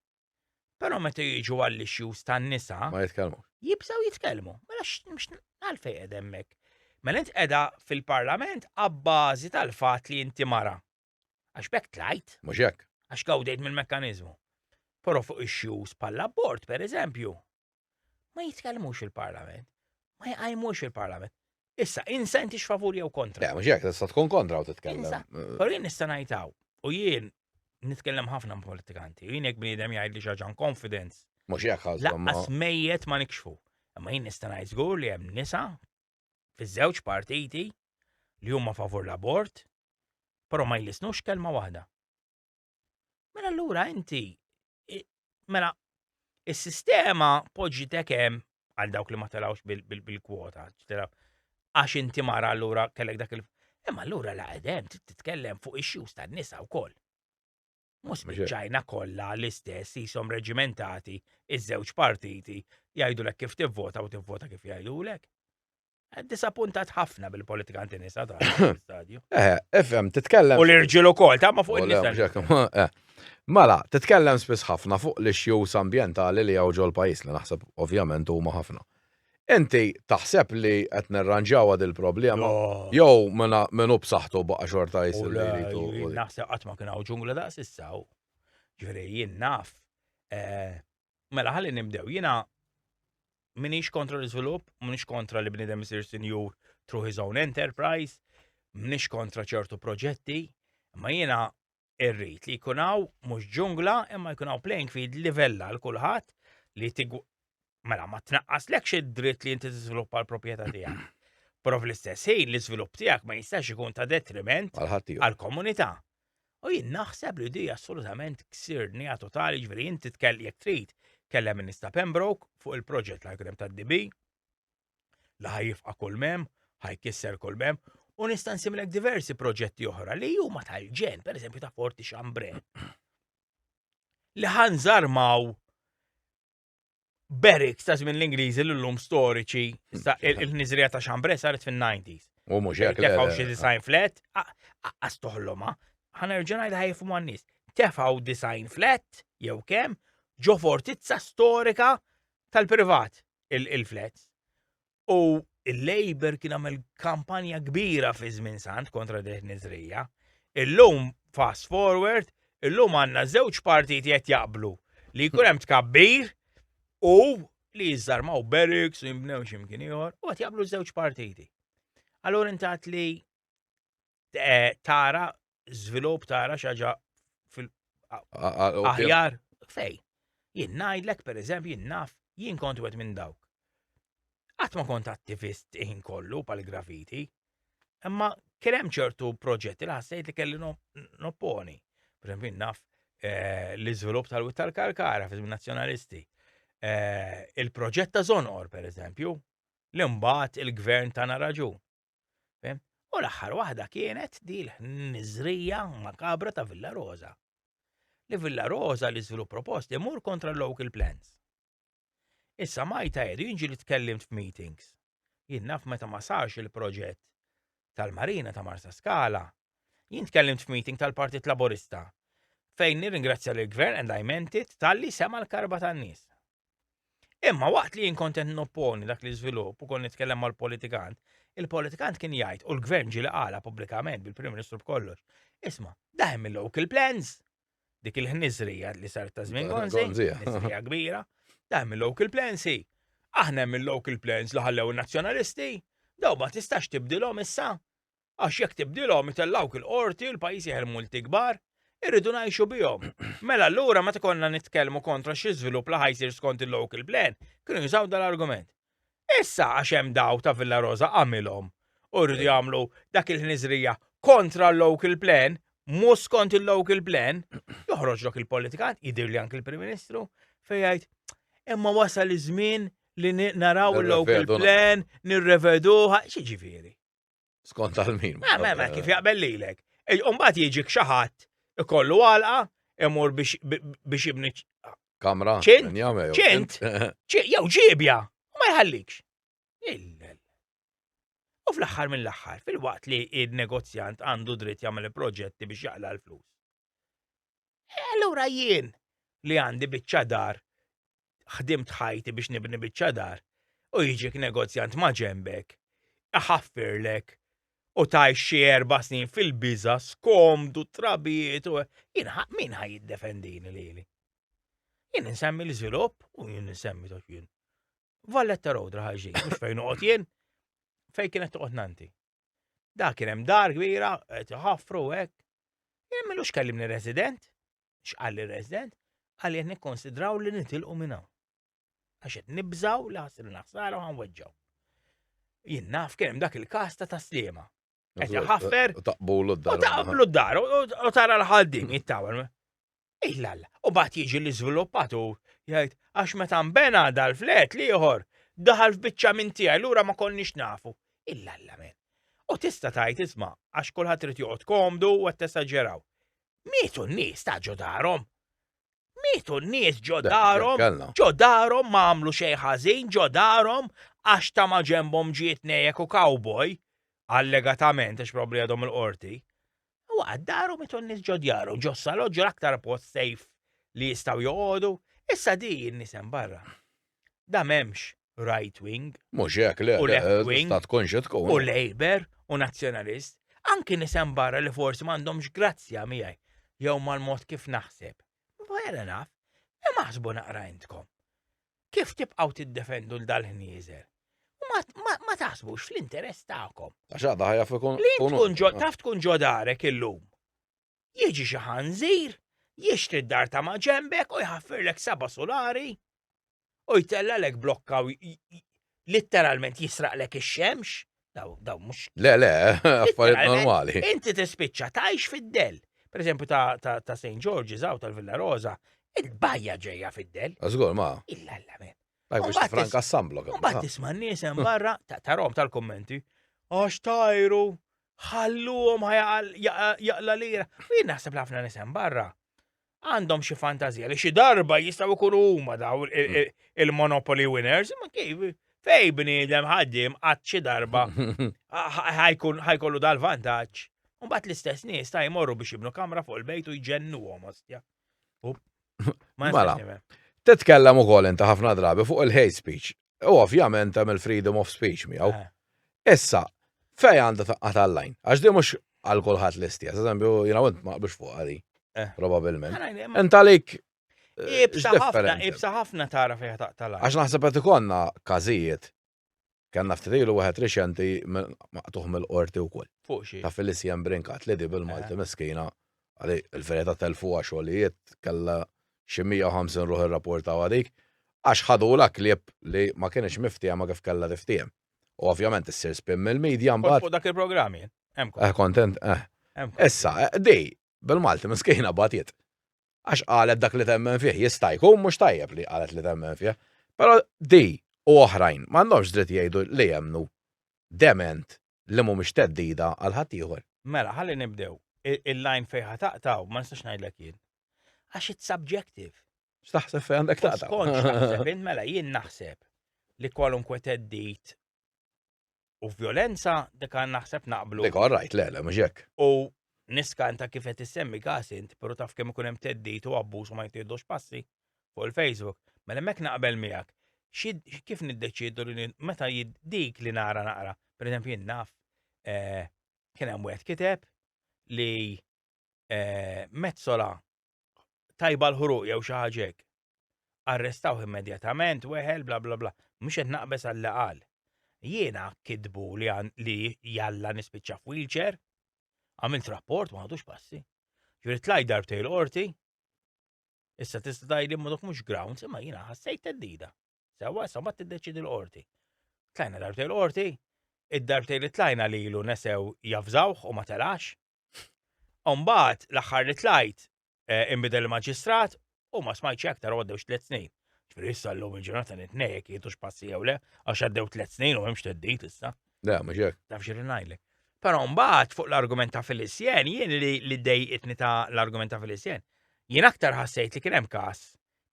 Però meta jiġu għall-issues tan-nisa. Ma jitkellmu. Jibżgħu jitkellmu. Mela għalfejn qed hemmhekk. Mela int qiegħda fil-Parlament abbażi tal-fatt li inti mara. Għax bekk tlajt. Mhux hekk. Għax gawdejt mill-mekkaniżmu. Però fuq ix-xjuż bħall-abort, per eżempju, ma jitkellmux il-Parlament, ma jqajmux il-Parlament. Issa, insenti x'favur jew kontra. Le, mhux hekk, tista' tkun kontra u titkellem. Però jien nista' ngħidhaw, u jien nitkellem ħafna ma' politikanti, u jien jekk bniedem jgħid li xaġan confidence. Mhux hekk ħażhom. Laqqas mejjet ma nikxfu. Imma jien nista' ngħid żgur li hemm nisa fiż-żewġ partiti li huma favur l-abort, però ma jlisnux kelma waħda. Mela allura inti mela is-sistema poġġi tekem għal dawk li ma telawx bil-kwota, għax inti mara allura kellek dak il- Imma allura la qedem titkellem fuq ix-xus tan-nisa wkoll. Mhux miċ-Ċina kollha l-istess jisom reġimentati iż-żewġ partiti jgħidulek kif tivvota u tivvota kif jgħidulek. Eh, disappuntat ħafna bil-politikanti nisa ta' stadju. Eh, efem, titkellem. U l-irġiel ukoll, ta' ma fuq il-nisa. Eh. Mela, titkellem spiss ħafna fuq l-issues ambjentali li hawn ġol pajjiż li naħseb ovvjament huma ħafna. Inti taħseb li qed nirranġawha dil-problema? Jew min hu b'saħħtu baqa' xorta jsir li jridu? Naħseb qatt ma kien hawn ġungla daqs issa hawn. Ġifieri jien naf. Eh, mela ħalli nibdew. Jiena minix kontra l-iżvilupp, minix kontra li bnidem isir sinjur through his own enterprise, minix kontra ċertu proġetti, ma jiena irrid li jkun hawn mhux ġungla imma jkun hawn playing field livella l kulħadd li tigu mela ma tnaqqas lekx id-dritt li inti tiżviluppa l-proprjetà tiegħek. Però fl-istess ħin l-iżvilupp tiegħek ma jistax ikun ta' detriment għall-komunità. U jien naħseb li di assolutament ksirni totali ġveri inti tkell jek trid kellem Minista Pembroke fuq il-proġett l-agrem tad-DB li ħajifqa kull mem, ħajkisser kull mem, u nista' nsimlek diversi proġetti oħra li huma tal-ġen, per eżempju ta' Forti Xambre. Li ħanżarmaw Berik ta' żmien l-Ingliżi l lum storiċi il-nizrija ta' Xambre saret fin-90s. U mhux hekk. Tefaw xi design flat, għas toħloma, ħanerġa' ngħid ħajfu man nies. Tefaw design flat jew kemm ġo fortizza storika tal-privat il-flats. U il-Labour kien għamel kampanja kbira fi żmien sant kontra deh nizrija. Illum fast forward, illum għandna żewġ partiti qed jaqblu li jkun hemm tkabbir u li jiżarmaw barracks u jimbnew x'imkien ieħor u qed jaqblu żewġ partiti. Allura intat li eh, tara żvilupp tara xaġa fil aħjar fej. Jien ngħidlek pereżempju jien naf jien kont wet minn dawk. Qatt ma kont attivist iħin kollu pal grafiti imma kien hemm ċertu proġetti li ħassejt li kelli nopponi. Pereżempju naf eh, l-iżvilupp tal-wit tal-karkara fiż nazzjonalisti. Eh, il-proġett ta' Zonor, pereżempju, li mbagħad il-gvern tana raġun. Fem? U l-aħħar waħda kienet di l-ħniżrija makabra ta' Villa Rosa. Li Villa Rosa li żvilupp proposti mur kontra local plans. Issa majta jedu jinġi li tkellimt f'meetings. Jien naf meta ma sarx il-proġett tal-Marina ta' Marsa Skala, jien tkellimt f'meeting tal-Partit Laburista fejn nirringrazzja l-Gvern and I meant it tal-li sema l-karba tan-nies. Imma waqt li jien kont qed nopponi dak l-iżvilupp u kont nitkellem mal-politikant, il-politikant kien jgħid u l-gvern ġieli qala pubblikament bil-Prim Ministru b'kollox. Isma', daħem il-local plans, dik il-ħniżrija li saret ta' żmien Gonzi, ħniżrija kbira, daħem il-local plans hi. Aħna hemm il-local plans li ħallew in-nazzjonalisti, daw ma tistax tibdilhom issa. Għax jekk tibdilhom itellgħuk il-Qorti u l-pajjiż jeħel multi kbar. Irridu ngħixu bihom. Mela allura meta konna nitkellmu kontra xi żvilupp li ħa jsir skont il-local plan, kienu jużaw dal-argument. Issa għax hemm daw ta' Villa Rosa għamilhom u jridu jagħmlu dak il-ħniżrija kontra l-local plan, mhux skont il-local plan, joħroġlok il-politikan, jidhirli anki l-Prim Ministru, fejn jgħid imma wasal iż-żmien li naraw il-local plan, nirreveduha, xi ġifieri. Skont għal min. Ma, ma, ma, kif jaqbel lilek. Umbat jiġi xaħat ikollu għalqa, imur biex jibni. Kamra. ċint, ċint, jew ġibja, u ma jħallikx. U fl-axħar mill-axħar, fil-waqt li il-negozjant għandu dritt jagħmel proġetti biex jaqla l-flus. E allura jien li għandi biċċa dar, ħdimt ħajti biex nibni biċċa dar, u jiġik negozjant ma' ġenbek, iħaffirlek, u taj xi erba' snin fil-biża, skomdu, trabijiet, u jien min ħaj jiddefendini lili. Jien nsemmi l-iżvilupp u jien nsemmi tox jien. Valletta Rodra ħaġi, mhux fejn noqgħod jien, fejn kienet toqgħod nanti. Da kien hemm dar kbira, qed iħaffru hekk. Jien minux kellimni resident, x'qal li resident, qal jien nikkonsidraw li nitilqu minn hawn. Għax qed nibżaw li ħassir naħsara u ħanweġġaw. Jien naf kien hemm dak il-każ ta' taslima. Qed iħaffer. Taqbulu d-dar. Taqblu d-dar u tara l-ħaddin jittawel. Illal, u bat jiġi l-iżviluppatur jgħid għax meta nbena dal-flet l-ieħor daħal f'biċċa minn tiegħi lura ma konniex nafu. Illal men. U tista' tgħid isma' għax kulħadd irid joqgħod komdu u qed tesaġeraw. Mietu n-nies ta' ġo darhom. Mietu n-nies ġo darhom, ġo darhom ma għamlu xejn ħażin, ġo darhom għax ta' ma ġembhom ġiet nejek u cowboy, allegatament għax probli għadhom il-qorti. U għad daru mitu n-nis ġo djaru, ġo salot, ġo l-aktar post sejf li jistaw joqodu, issa di n-nisem barra. Da memx right wing. Mux jek le, u left wing. Ta' tkun xe tkun. U Labour, u nazjonalist. Anki nisem barra li forsi mandomx grazzja miħaj, jew mal-mod kif naħseb. Fair enough. Imma ħsbu naqra intkom. kif tibqgħu tiddefendu l dal-ħnieżer? Ma taħsbux fl-interess tagħkom. Għax għadha ħajja fikun. Li tkun ġo, taf tkun ġo darek illum. Jiġi xi ħanżir, jixtri d-dar ta' ma' ġembek u jħaffirlek saba' solari u jtella lek blokka litteralment jisraqlek ix-xemx, daw daw mhux. Le, le, affarijiet Litteralment, normali. Inti tispiċċa tgħix fid-del. Per eżempju ta' ta' ta' St. George's hawn tal-Villa Rosa, il-bajja ġejja fid-del. Żgur ma. Illa alla men. Daj biex Mbagħad franka s-samblok. Mbagħad tisma' n-nies hemm barra ta' tarhom tal-kummenti. Għax tajru, ħalluhom ħajaqal- jaqa- jaqla lira. U jien naħseb li ħafna nies hemm barra. għandhom xi fantazija li xi darba jistgħu jkunu huma daw hmm. il-Monopoly winners, ma kif fej bniedem ħaddim għad xi darba ħajkollu dal-vantaġġ. Mbagħad l-istess nies ta' jmorru biex jibnu kamra fuq il-bejt u jġennuhom ostja. Mela, titkellem ukoll inta ħafna drabi fuq il-hate speech. U ovvjament hemm il-freedom of speech miegħu. Eh. Issa, fej għandha taqqa' tal-lajn, għax di mhux għal kulħadd l-istess, eżempju, jiena int ma qbilx fuq għadi, eh. probabilment. Int għalik eh, Ibsa ħafna, ibsa ħafna tara fejn taqqa' tal-lajn. Għax naħseb qed ikonna każijiet Kanna ftitilu wieħed riċenti maqtuħ mill-qorti wkoll. Fuq xi. Ta' Felicien Brinkat li di bil-Malti miskina għalli il-verita telfuha xogħlijiet kella xi 150 ruħ irrapportaw għadik, għax ħadu la klieb li ma kienx miftiehma kif kella tiftiehem. U ovvjament issir spin mill-medja mbagħad. Fuq dak il-programmi. Eh kontent, eh. Issa, eh, di, bil-Malti miskejna batiet. Għax qalet dak li temmen fih, jista' jkun mhux tajjeb li qalet li temmen fih. Però di u oħrajn m'għandhomx dritt jgħidu li jemnu dement li mhumiex theddida għal ħaddieħor. Mela, ħalli nibdew. Il-line fejn ħa taqtaw, ma nistax ngħidlek jien. Għax it's subjective. X'taħseb fejn għandek taqtaw? Skont x'taħseb int mela jien naħseb li kwalunkwe teddit u violenza dik għan naħseb naqblu. Dik rajt, le, le, mhux hekk. U niskanta kif qed issemmi każ int, però taf kemm ikun hemm teddit u abbuż u ma jtirdux passi. fuq il-Facebook, mela hemmhekk naqbel miegħek. Xi kif niddeċiedu li ni- meta ji- dik li nara naqra. Pereżempju jien naf eh, kien hemm wieħed kiteb li eh, mezzola tajba l-ħruq jew xi ħaġa hekk. Arrestawh immedjatament, weħel, bla bla bla. Mhux qed naqbeż għall qal. Jiena kitbu li għan- li jalla nispiċċa f'wheelchair, għamilt rapport ma ħadux passi. Ġifieri tlajt darbtej l-qorti, Issa tista' tgħidli ma dok mhux grounds, imma jiena ħassejt teddida. Sewwa issa mbagħad tiddeċidi l-qorti. Tlajna darbtejn l-qorti, id-darbtejn li tlajna lilu nesew jafżawh u ma telax. Umbagħad l-aħħar li tlajt eh, inbidel il-maġistrat u ma smajtx aktar għoddewx tliet snin. Ġifieri issa llum il-ġurnata nitnejjek jieħdux passi jew le, għax għaddew tliet snin u hemmx teddid issa. Da, mhux hekk. Taf xi ngħidlek. Però mbagħad fuq l-argument ta' Filissien, jien li li dejqitni ta' l-argument ta' Filissien, jien aktar ħassejt li kien hemm każ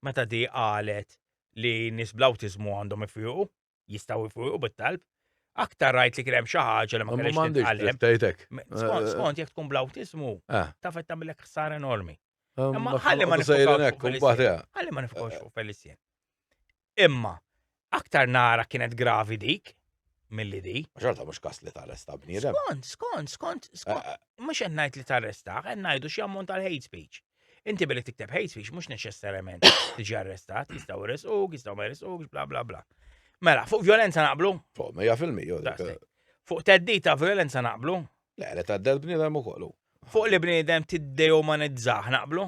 meta di qalet li nies bl-awtiżmu għandhom ifiqu, jistgħu jfiqu bit-talb, aktar rajt li kien hemm xi ħaġa li ma kellix titqallem. Tajtek. Skont eh, skont jekk tkun bl-awtiżmu, eh. taf qed tagħmilek ħsar enormi. Eh, Imma ħalli ma nifokawx fuq Felicien. Ħalli ma nifokawx fuq Felicien. Imma, aktar nara kienet gravi dik milli di. Xorta mhux kas li tarresta bniedem. Skont, skont, skont, skont. Eh, eh. Mhux qed ngħid li tarresta, qed ngħidu xi ammont tal-hate speech. Inti billi tikteb hate speech mhux neċessarjament tiġi arrestat, jistgħu jrisquk, jistgħu ma jrisqux, bla bla bla. Mela, fuq violenza naqblu? Fuq, ma jafilmi, jo. Eh. Fuq teddita violenza naqblu? Le, li taddel bniedem u kollu. Fuq li bniedem tiddejumanizzah naqblu?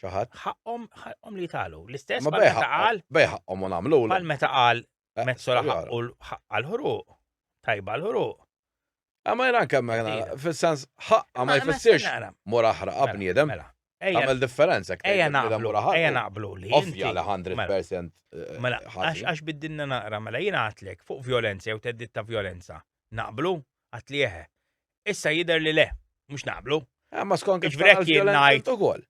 xi ħadd. Ħaqqhom ħaqqhom li jitgħalu. L-istess bħal meta qal. Bej ħaqqhom u nagħmlu. Bħal meta qal eh, mezzola ħaqqu l-ħruq. Tajba l-ħruq. Għamma jran kemm fil-sens ħaqqa ma jfissirx mur aħra mela, bniedem. Mela. Għamil differenza. Ejja naqblu. Ejja naqblu li. Ovvja li 100%. Mela, eh, mela għax biddinna naqra, mela jina għatlek fuq violenza jew teddit ta' violenza. Naqblu? Għatli eħe. Issa jidher li le, mhux naqblu. Eh, ma skont kif Iġbrek tara jien l-vjolenza ngħid. int ukoll.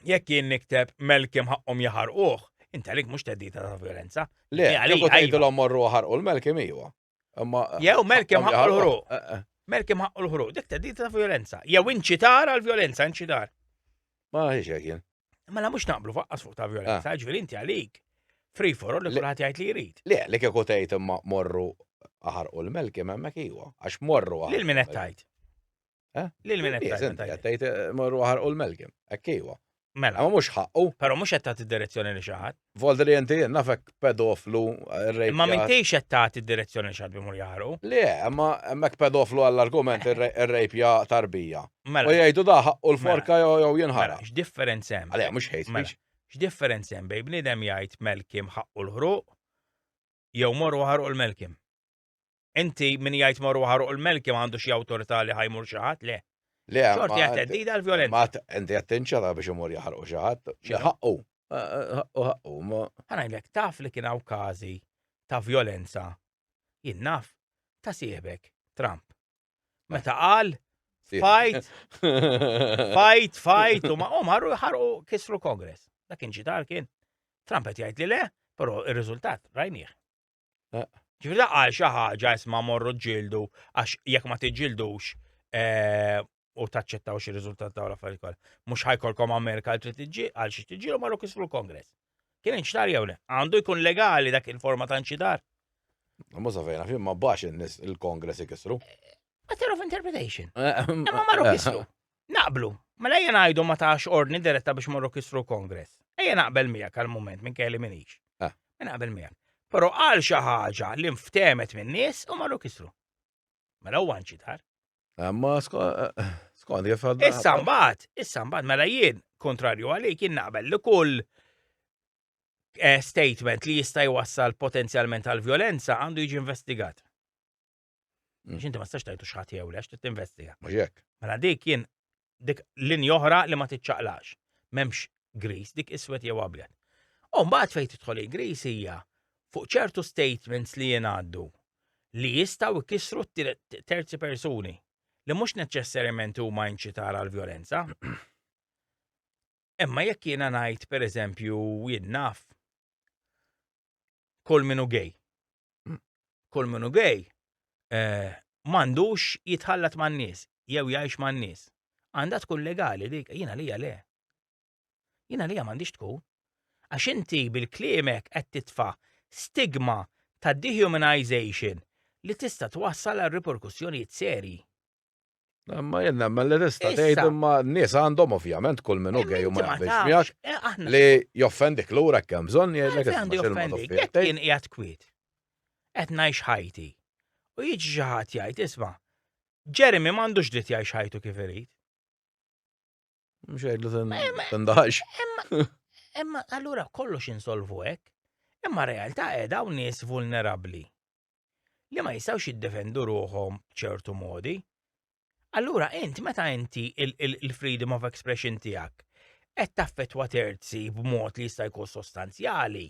Jekk jien nikteb melkim ħaqqhom jaħarquh, inta lik mhux teddita ta' violenza. Le, Hija li kieku għalija, iva. tgħidilhom morru ħarqu l-melkim iwa. Imma Jew melkim ħaqqu ħaqqhom l-ħruq. jaħarquh. Eh, eh. Melkim ħaqqu l-ħruq, dik teddita ta' violenza. Jew inċitar għal violenza, inċitar. Ma ħiex hekk jien. Mela mhux naqblu faqqas fuq ta' violenza, ah. ġifieri inti għalik free for all li kulħadd jgħid li jrid. Le, li kieku tgħid imma morru aħar u l-melki hemmhekk iwa, għax morru aħar. Lil min qed tgħid? Eh? Lil min qed tgħid? Qed tgħid eh, morru aħar u l-melki, hekk iwa. Mela. Ma mhux ħaqqu. Però mhux qed tagħti direzzjoni li xi ħadd. Volta li inti nafek pedoflu, rejp. Imma minn tgħix qed tagħti d-direzzjoni x'għad bimur jaħru. Le, imma hemmhekk pedoflu għall-argument ir-rejpja tarbija. Mela. U jgħidu da ħaqqu l-forka mela. jew jinħara. Mela, x'differenza hemm? Għalija mhux hate mela, speech. X'differenza hemm bejn bniedem jgħid melkim ħaqqu l-ħruq jew morru ħarqu l-melkim? Inti min jgħid marru ħaruq il-melki ma għandu xi awtorità li ħajmur xi ħadd, le. Le, xorti għat teddida l-violenza. Ma inti qed tinċara biex imur jaħarqu xi ħadd. Ħaqqu. Ħaqqu ħaqqu. Ħanajlek taf li kien hawn każi ta' violenza. Jien naf ta' siebek Trump. Meta qal fight, fight, fight, u ma' marru jħarqu kisru Kongress. Dak kien ġidar kien. Trump qed jgħid li le, però ir-riżultat rajnieh. Ġifieri qal xi ħaġa isma' morru ġġieldu għax jekk ma tiġġildux eh, u taċċettawx ir-riżultat ta' l-affarijiet kollha. Mhux ħajkolkom Amerika li tiġġi għal xi tiġġielu marru kisru l-Kongress. Kien inċtar jew le? Għandu jkun legali dak il-forma ta' inċitar? Ma safejna fim ma bax il-Kongress ikisru. Matter of interpretation. Eh, Imma marru kisru. Naqblu. Mela ejja ngħidu ma tax ordni diretta biex morru kisru l-Kongress. Ejja naqbel miegħek għal mument minn kelli minix. Ah. Mela naqbel miegħek. Però għal xi ħaġa li nftemet minn nies u marru kisru. Mela huwa nċitar. Ah, ma eh, skont kif għadda. Issa mbagħad, issa mbagħad mela jien kontrarju għalik jien naqbel li kull eh, statement li jista' jwassal potenzjalment għal violenza għandu jiġi investigat. Mm. Xinti ma stax tajtu xħat jew lex, trid tinvestiga. Mhux Mela dik jien dik linja oħra li ma tiċċaqlax. M'hemmx gris, dik iswed jew abjad. U mbagħad fejn tidħol il-gris hija fuq ċertu statements li jingħaddu li jistgħu jkissru terzi persuni li mhux neċessarjament huma inċitar għal violenza. Imma jekk jiena ngħid pereżempju jien naf kull minu gej kull minu gay eh, m'għandux jitħallat man-nies jew jgħix man-nies. Għandha tkun legali dik, jiena lija le. Jiena lija m'għandix tkun. Għax inti bil-kliemek qed titfa' stigma ta' dehumanization li tista' twassal għal riperkussjonijiet serji. Ma jenna, ma l-resta tgħid imma n-nies għandhom ovvjament kull minn għej u ma jaqbilx miegħek eh, li joffendik lura kemm bżonn jgħidlek għandi joffendik. Jekk jien qiegħed kwiet. Qed ngħix ħajti. U jiġi xi ħadd jgħid isma' Jeremy m'għandux dritt jgħix ħajtu kif irid. Mux għedlu tandax. Imma allura kollox insolvu hekk. Imma realtà edha u nies vulnerabli li ma jistawx jiddefendu ruħom ċertu modi. Allura int meta inti il-freedom of expression tiegħek qed taffetwa terzi b'mod li jista' jkun sostanzjali,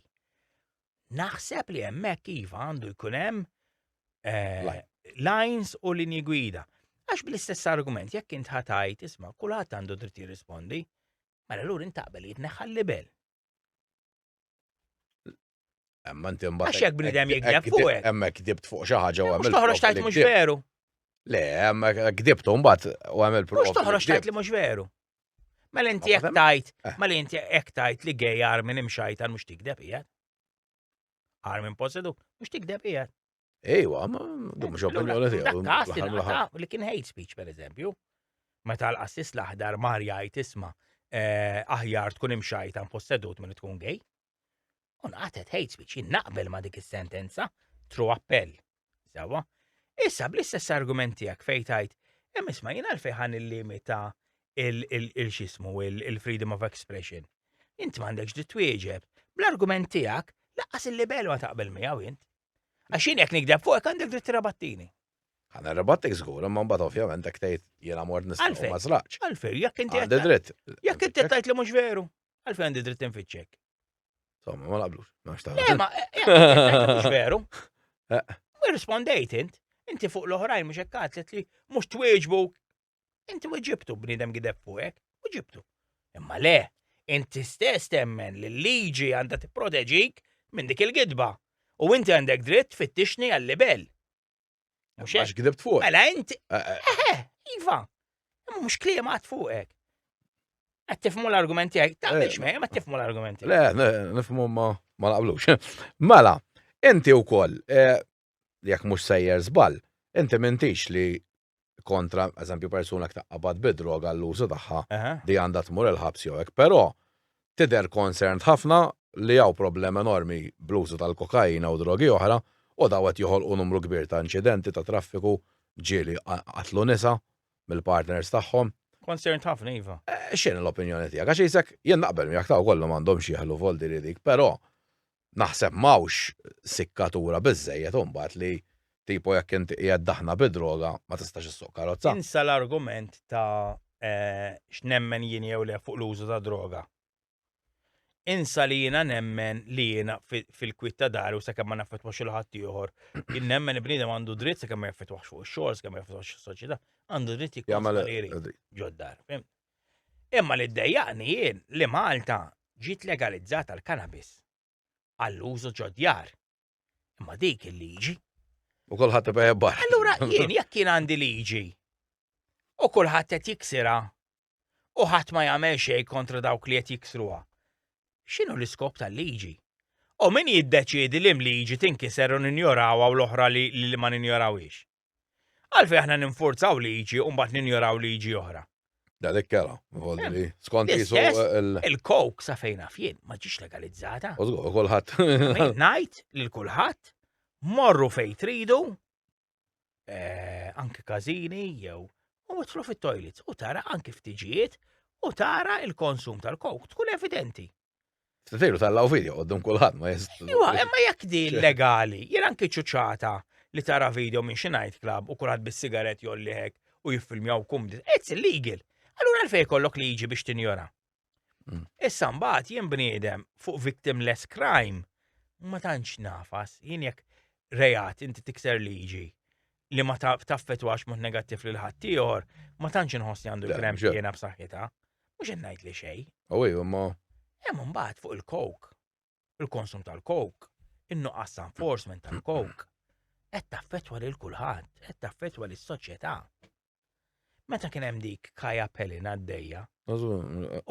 Naħseb li hemmhekk iva għandu jkun hemm eh, lines u linji gwida. Għax bl-istess argument, jekk int ħatajt, isma, kulħadd għandu dritt jirrispondi, mela l-ur intaqbel jitneħħal libel. Emma inti mbagħad. Għax jekk bnidem jikdeb fuq. Emma kdibt fuq xi ħaġa u għamil. Toħroġ tajt mhux veru. Le, emma kdibtu mbagħad u għamil prova. Mhux toħroġ tajt li mhux veru. Mela inti jekk tajt, eh. mela inti jekk tajt li gej Armin imxajtan mhux tikdeb qiegħed. Armin posedu mhux tikdeb qiegħed. Ejwa, ma dum xo opinjoni tiegħu. Li kien hate speech pereżempju. Meta l-qassis l-aħdar mar jgħid isma' eh, aħjar tkun imxajtan possedut minn tkun gej. U naqatet hate speech, jien naqbel ma' dik is-sentenza, tru appell. Sawa? Issa bl-istess argument tiegħek fejn tajt, hemm isma' jien għalfejn ħan il-limita il-xismu, il-freedom of expression. Int m'għandekx di twieġeb, bl-argument tiegħek laqqas il-libel ma taqbel miegħu int. Għax jien jekk nikdeb fuqek għandek dritt tirabattini. Għana rabattek zgur, ma mbagħad ovvjament hekk tgħid jiena mort nistgħu ma żlaqx. Għalfej, jekk inti. Għandi dritt. Jekk inti tgħid li mhux veru. Għalfejn għandi dritt infittxek? Somma, ma laqblux, ma xtaħ. Le, ma, eh, eh, eh, veru. U rispondejt int, inti fuq l-oħrajn mux ekkat li mux twieġbu, inti u ġibtu bnidem gideb fuqek, u ġibtu. Imma le, inti stess temmen li l-liġi għanda t-proteġik minn dik il-gidba. U inti għandek dritt fittixni għal-libel. Mhux hekk. Għax fuq. Mela inti. Eh, eh. Eħe, iva. Mhux kliem għad fuqek. Qed tifmu l-argumenti għek, ta' biex me, ma tifmu l-argumenti. Le, nifmu ma ma laqblux. Mela, inti wkoll eh, jekk mhux sejjer żball, inti mintix li kontra, eżempju, persuna kta qabad bid-droga l-użu tagħha li għandha tmur il-ħabs jew hekk. Però tidher concerned ħafna li hawn problem enormi bl-użu tal-kokaina u drogi oħra u dawn qed joħolqu numru kbir ta' inċidenti ta' traffiku, ġieli qatlu nisa mill-partners tagħhom. Concerned ħafna iva. X'inhi l-opinjoni tiegħek? Għax isek jien naqbel miegħek ta' kollhom għandhomx jeħlu voldi li dik, però naħseb m'hawnx sikkatura biżżejjed u mbagħad li tipo jekk inti qiegħed daħna bi droga ma tistax issuq karozza. Insa l-argument ta' x'nemmen jien jew le fuq l-użu ta' droga. Insa li jiena nemmen li jiena fil-kwiet ta' dari u sakemm ma naffettwax il ħadd ieħor, jien nemmen il-bniedem għandu dritt sakemm ma jaffettwax fuq ix-xogħol, sakemm ma jaffettwax is-soċjetà, għandu dritt jikkonsumatori ġod-dar. Imma li ddejjaqni jien li Malta ġiet legalizzata l-cannabis għall-użu ġod-djar. Imma dik il-liġi. U kulħadd ibgħa jebbaħ. Allura jien jekk jien għandi liġi u kulħadd qed jiksirha u ħadd ma jagħmel xejn kontra dawk li qed jiksruha. X'inhu l-iskop tal-liġi? U min jiddeċiedi li mliġi tinkiser u ninjorawha u l-oħra li ma ninjorawhiex? Għalfej aħna ninfurzaw liġi u mbagħad ninjoraw liġi oħra. Da dik kera, volli li skont jisu il-kok sa fejna fien ma ġiex legalizzata. Użgur, kulħadd. Ngħid lil kulħadd morru fejn tridu eh, anki każini jew u mitlu fit-toilets u tara anki ftiġijiet u tara il-konsum tal-kok tkun evidenti. Veru tal-law video għoddum kullħat ma jist. Iwa, imma jekk di legali, jien anki ċuċata li tara video minn xi night club u kulħadd bis-sigaret jolliħek u jiffilmjaw kum. It's illegal. Allura għalfej kollok liġi biex tinjora. Mm. Issa mbagħad jien bniedem fuq victimless crime ma tantx nafas, jien jekk rejat inti tikser liġi li ma taffetwax mod negattiv lil ħadd ieħor, ma tantx inħossni għandu l-krem jiena b'saħħitha. Mhux qed ngħid li xejn. U ejju ma. Hemm imbagħad fuq il-kok, il-konsum tal-kok, in-nuqqas enforcement tal-kok, qed taffetwa lil kulħadd, qed taffetwa lis-soċjetà. Meta kien hemm dik Kaja Pelin għaddejja.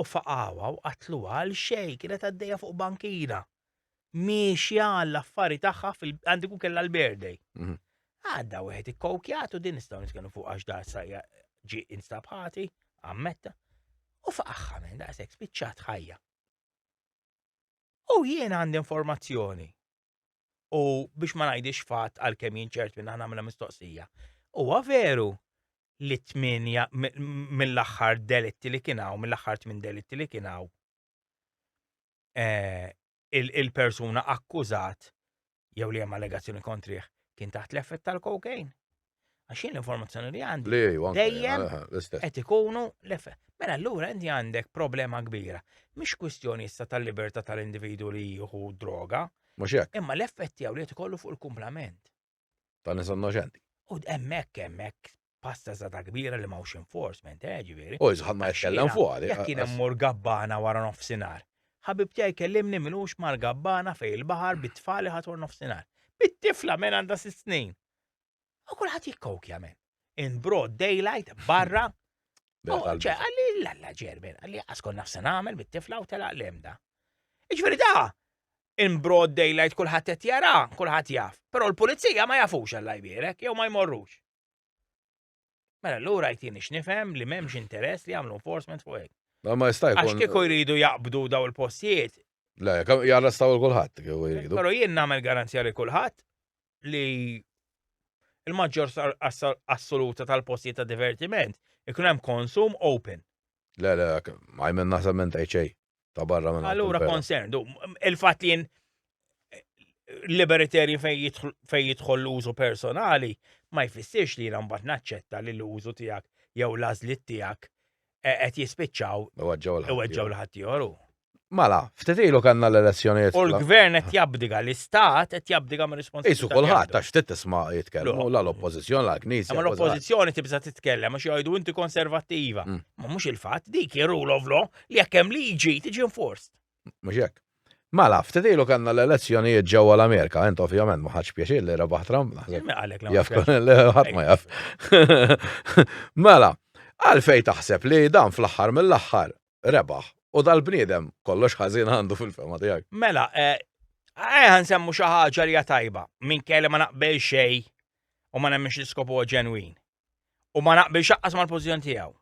U faqawa u qatlu għal xej kienet għaddejja fuq bankina. Miexja għall-affari tagħha għandi kun kellha l-birthday. Mhm. Għadda wieħed ikkokjatu din nistgħu nitkellmu fuq għax da sajja ġi instabħati, ammetta. U faqaħħa minn daqshekk spiċċat ħajja. U jien għandi informazzjoni U biex ma ngħidix fatt għalkemm jien ċert minn nagħmilha mistoqsija. Huwa veru li tminja mill-aħħar delitti li kien hawn, mill-aħħar tmien delitti li kien hawn, eh, il-persuna akkużat jew li hemm allegazzjoni kontrih kien taħt l-effett tal-kokain. Għax jien l-informazzjoni li għandi. Li ju, dejjem. Qed ikunu l-efe. Mela allura inti għandek problema kbira. Mhix kwistjoni issa tal-libertà tal-individu li jieħu droga. Mhux hekk. Imma l-effett tiegħu li qed ikollu fuq il-kumplament. Ta' nies innoċenti. U hemmhekk hemmhekk pasta zata kbira li mawx enforcement, eh, ġiviri. U jizħad ma jitkellem fuq għali. Jek kien mur gabbana wara nofsinar. Ħabib tiegħi kellimni minux mar gabbana fej il-baħar bit-tfali ħatur nofsinar. Bit-tifla minn għandha sitt snin. U kulħadd jikkokja men. In broad daylight, barra. ċe, għalli l-alla ġermen, għalli għaskon nafsa namel bit-tifla u tela l-emda. Iġveri da, in broad daylight kulħadd qed jara, kulħadd jaf. Però l-pulizija ma jafux għalla jbierek, jew ma jmorrux. Mela l-ura jtini x'nifhem li m'hemmx interess li jagħmlu enforcement fuq hekk. Ma ma jista' Għax jkun. kieku jridu jaqbdu daw il-postijiet, Le, kam- jarrestaw il kulħadd kieku jridu. però jien nagħmel garanzija li kulħadd li il-maġġor sar- assa- assoluta tal-postijiet ta' divertiment ikun hemm konsum open. Le, le, għajmen naħseb minn tajt xejn. ta' barra minn. Allura concerned, il-fatt li liberiteri fej jidħol l-użu personali ma jfissirx li jina mbagħad naċċetta li l-użu tiegħek jew l-għażliet tiegħek e, qed jispiċċaw iweġġaw l-ħadd joru. Mala, ftit ilu kanna l-elezzjonijiet. U l-gvern qed jabdiga, l-istat qed jabdiga minn responsabilità. Isu kulħadd għax ftit tisma' jitkellmu la l-oppożizzjoni la l-knisja. Ma l-oppożizzjoni tibża' titkellem għax jgħidu inti konservattiva. Mm. Ma mhux il-fatt dik ir-rule of law li jekk hemm liġi tiġi enforced. Mhux hekk. Mela, ftit ilu kellna l-elezzjonijiet ġewwa l-Amerika, int ovvjament ma ħadx pjaċir li rebaħ Trump naħseb. Jaf ħadd ma jaf. Mela, għalfej taħseb li dan fl-aħħar mill-aħħar rebaħ u dal-bniedem kollox ħażin għandu fil-fema tiegħek. Mela, eh, eh, ħan semmu xi ħaġa li tajba minn kelli ma naqbel xejn u ma nemmix l-iskopu ġenwin. U ma naqbel xaqqas mal-pożizzjoni tiegħu.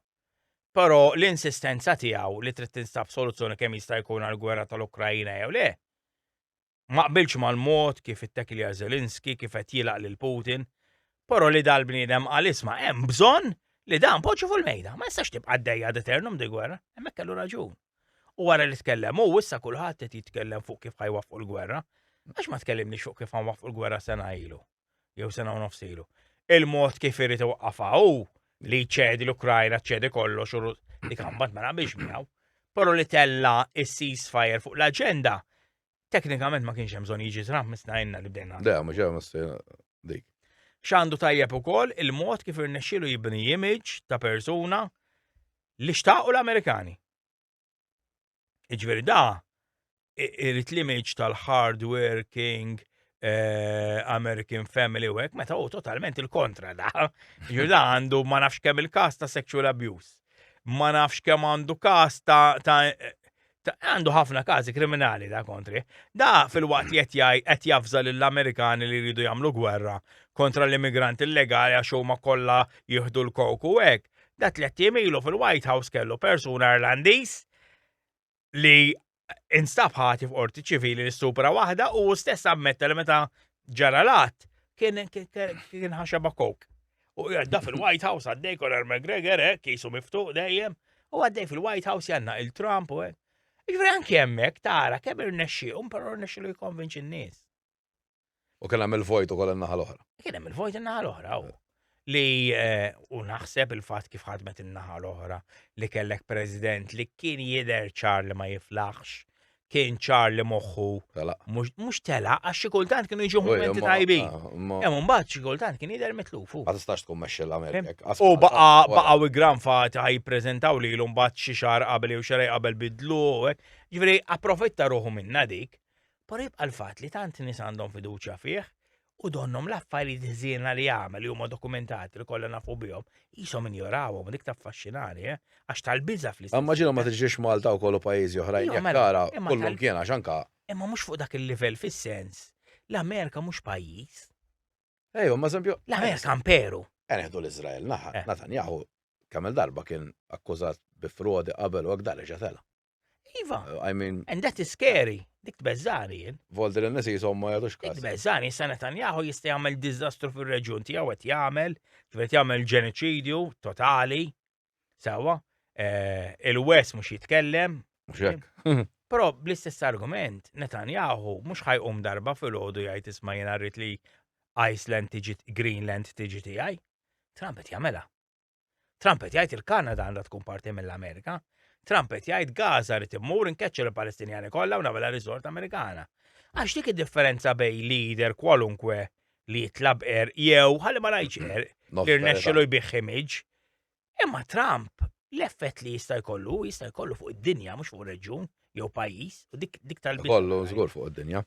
Però l-insistenza tiegħu li trid tinstab soluzzjoni kemm jista' jkun għall-gwerra tal-Ukraina jew le, ma qbiltx mal-mod kif ittekilja Zelensky kif qed jilgħaq lil Putin, però li dal-bniedem qal isma' hemm bżonn li dan poġġu fuq il-mejda, ma jistax tibqa' għaddejja ad aeternum dil-gwerra, hemmhekk kellu raġun. U wara li tkellem hu, issa kulħadd qed jitkellem fuq kif ħa jwaffqu l-gwerra, għax ma tkellimniex fuq kif ħa nwaffqu l-gwerra sena ilu? jew sena u nofs ilu. Il-mod kif irid iwaqqafha hu li ċedi l-Ukrajna ċedi kollox u li kambat ma naqbilx miegħu. Però li tella is-ceasefire fuq l-aġenda teknikament ma kienx hemm bżonn jiġi Trump misna jenna li bdejna. Da, mhux hemm dik. X'għandu tajjeb ukoll il-mod kif irnexxielu jibni image ta' persuna li xtaqu l-Amerikani. Iġveri da, irrit l-image tal-hardworking eh, American family u għek, meta u totalment il-kontra da. Ġuda għandu ma nafx kemm il-kas ta' sexual abuse. Ma nafx kemm għandu kas ta' għandu ħafna kazi kriminali da kontri. Da fil-waqt jett jaj, jett jafza l-Amerikani li jridu jamlu gwerra kontra l-immigranti illegali għax huma kollha jieħdu l-koku hekk. Da tliet jiem ilu fil-White House kellu persuna Irlandiż li instab ħati f'qorti ċivili li stupra waħda u stess ammetta li meta ġara lat kien kien ħaxaba kok. U għadda fil-White House għaddej Conor McGregor, eh, kisu miftuq dejjem, u għaddej fil-White House janna il-Trump u għek. Ġveri anki jemmek, tara, kemm irnexxi, un pero irnexxi li jkonvinċi n-nis. U kien hemm il-vojt ukoll in-naħa l-oħra. Kien hemm il-vojt in-naħa l-oħra, u li eh, u naħseb il-fatt kif ħadmet in-naħa l-oħra li kellek president li kien jidher ċar li ma jiflaħx, kien ċar li moħħu Tela. mhux mhux tela għax xi kultant kienu jiġu Uj, momenti imma- tajbin. ah, imma- Hemm imbagħad xi kultant kien jidher mitluf. hu. Ma tistax tkun mexxi l-Amerika. hekk, qatt U ma- baqa qatt ma- baqa u gran fati ħaj prezentaw li l-umbat xi xar qabel jew xarej qabel bidlu u hekk. Ġifieri approfitta ruħu minna dik. Però jibqa' l-fatt li tant nies għandhom fiduċja fih u donnhom l-affarijiet ħżiena li għamel li huma dokumentati li kollha nafu bihom, qishom injorawhom dik taffaxxinani, eh? għax tal-biża' fl-istess. Imma ġilhom ma tiġrix Malta wkoll u pajjiżi oħrajn jekk mela, tara kullum kien għax anka. Imma mhux fuq dak il-livell fis-sens l-Amerika mhux pajjiż. Ejju, ma eżempju. L-Amerika imperu. Eneħdu l-Iżrael, naħa, eh. Natanjahu kemm darba kien akkużat bi frodi qabel u għak darreġa tela. Iva. Uh, I mean. And that is scary. Dik tbeżżani jien. Volder in nisi jisom ma jadux kas. Tbeżżani, issa Netanyahu jista' jagħmel diżastru fir-reġjun tiegħu qed jagħmel, ġifieri jagħmel ġenoċidju totali. Sawa, eh, il-West mhux jitkellem. Però bl-istess argument, Netanyahu mhux ħajqum darba fil-ħodu jgħid isma' jien rrid li Iceland tiġi Greenland tiġi tiegħi. Trump qed jagħmela. Trump qed jgħid il-Kanada għandha tkun parti mill-Amerika. Trump qed jgħid Gaza rid immur inkeċċer il-Palestinjani kollha u nagħmilha riżort Amerikana. Għax dik id-differenza bejn leader kwalunkwe li jitlab er jew ħalli ma ngħidx er li rnexxilu jbih image. Imma Trump l-effett li jista' jkollu jista' jkollu fuq id-dinja mhux fuq reġjun, jew pajjiż, u dik dik tal Kollu żgur fuq id-dinja.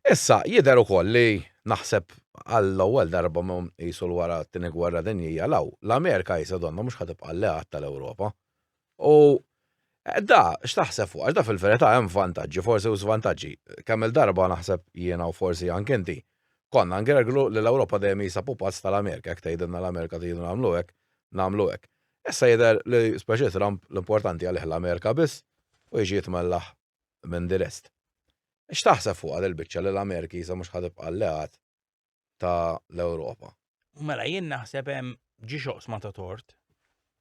Issa, jidher ukoll li naħseb għall-ewwel darba mum qisu l wara t-tieni gwerra dinjija law, l-Amerika jisa donna mhux ħatib alleat tal-Ewropa. U eh, da, x'taħseb fuq, għax da fil-verità hemm vantaġġi, forsi u żvantaġġi. Kemm il-darba naħseb jiena u forsi anke inti, konna ngerglu li l-Ewropa dejjem jisa pupazz tal-Amerika, jekk tgħidilna l-Amerika tgħidu nagħmlu hekk, nagħmlu hekk. Issa jidher li speċi Trump l-importanti għalih l-Amerika biss u jiġi jitmellaħ minn the rest. X'taħseb fuqha dil-biċċa li l-Ameriki sa mhux ħa tibqa' alleat ta' l-Ewropa? Mela jien naħseb hemm ġiex oqsma ta' tort.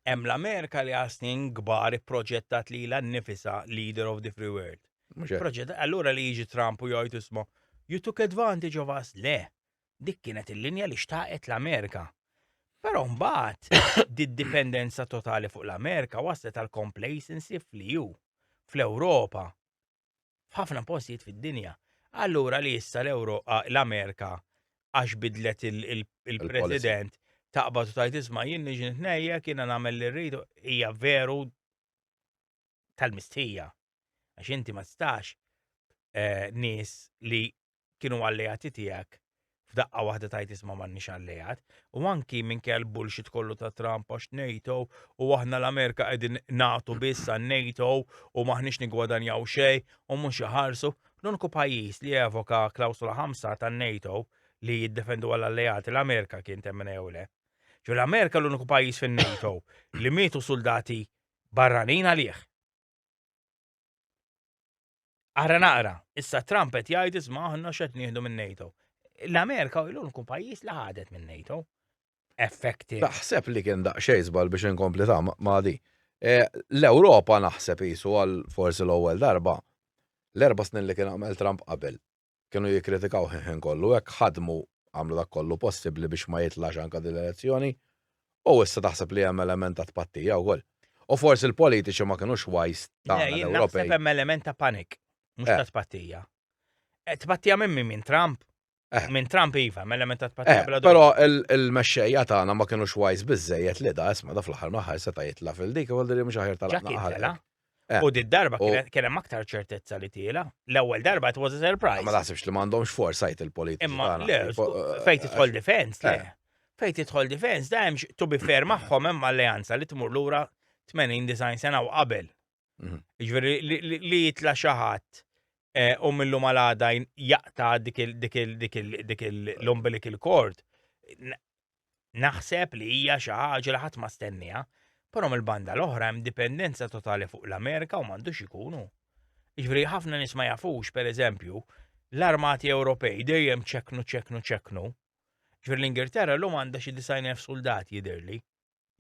Hemm l-Amerika li għal snin kbar ipproġettat lilha nnifisha leader of the free world. Mhux hekk. Proġett allura li jiġi Trump u jgħid isma' you took advantage of us le. Dik kienet il-linja li xtaqet l-Amerika. Però mbagħad did-dipendenza totali fuq l-Amerika waslet għal complacency fl-EU, fl-Ewropa, f'ħafna postijiet fid-dinja. Allura li issa l-Amerika għax bidlet il-president taqbad u tajt isma' jien niġi nitnejja kiena nagħmel li rridu hija veru tal-mistħija. Għax inti ma tistax eh, nies li kienu alleati tiegħek f'daqqa waħda tajt isma' m'għandniex alleat, u anki minn kell bullshit kollu ta' Trump għax NATO u aħna l-Amerika qegħdin nagħtu biss għan NATO u maħniex nigwadanjaw xejn u mhux iħarsu. L-uniku pajjiż li evoka klawsula ħamsa tan NATO li jiddefendu għal alleati l-Amerika kien temmen jew le. Ġu l-Amerika l-uniku pajjiż fin-NATO li mietu soldati barranin għalih. Ara naqra, issa Trump qed jgħid isma' aħna x'qed nieħdu minn NATO. L-Amerika u l-uniku pajjiż li ħadet minn NATO. Effekti. Taħseb li kien daqsxejn żball biex inkompli ta' ma' di. E, L-Ewropa naħseb jisu għal forsi l-ewwel darba l-erba' snin li kien għamel Trump qabel kienu jikkritikaw ħin kollu hekk ħadmu għamlu dak kollu possibbli biex ma jitlax anke din l-elezzjoni u issa taħseb li hemm element ta' tpattija wkoll. U forsi l-politiċi ma kinux wise ta' l-Ewropej. Naħseb hemm element ta' panik, mhux ta' tpattija. Tpattija minn min minn Trump? Minn Trump iva, hemm element ta' tpattija bla dubju. Però il-mexxejja tagħna ma kinux wise biżejjed li da isma' da fl-aħħar mill-aħħar seta' jitla' fil-dik u għal din mhux aħjar tal-aħħar. Eh. U did darba U- kien hemm aktar ċertezza li tiela. L-ewwel darba it was a Ma surprise. naħsibx li m'għandhomx foresight il-politiċi. Imma tagħna. le, Tipo, eh, fejn tidħol defense, le. eh. Fejn tidħol defense, da hemmx to be fair magħhom hemm alleanza li tmur lura 80 design sena u qabel. Mhm. Ġifieri li- li- li jitla xi ħadd eh, u millu malada jaqta dik il- dik il- dik il- dik il- l-umbilical cord. N- Naħseb li hija xi ħaġa li ħadd ma stennieha, però mill-banda l-oħra hemm dipendenza totali fuq l-Amerika u m'għandux ikunu. Jiġifieri ħafna nies ma jafux, pereżempju, l-armati Ewropej dejjem ċeknu ċeknu ċeknu. Jiġifieri l-Ingilterra llum għandha xi 90,000 suldat jidhirli.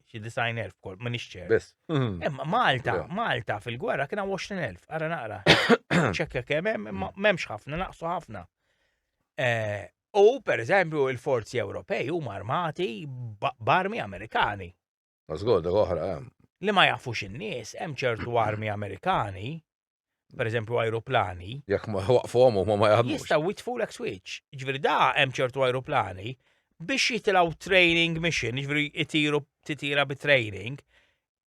xi design elf kol, ma nixċer. Biss. Imma Malta, Vera. Malta fil-gwerra kien hawn 20,000, ara naqra. Ċekka kemm hemm, imma m'hemmx ħafna, naqsu ħafna. Eh, U per eżempju il-forzi Ewropej huma armati b- b'armi Amerikani. Mażgur, dak oħra, eh. hemm. Li ma jafux in-nies, hemm ċertu armi Amerikani per eżempju aeroplani. Jekk ma waqfhom huma ma jaħdmux. Jistgħu jitfu l switch. Ġifieri da hemm ċertu aeroplani biex jitilgħu training mission, ġifieri jtiru titira bi training,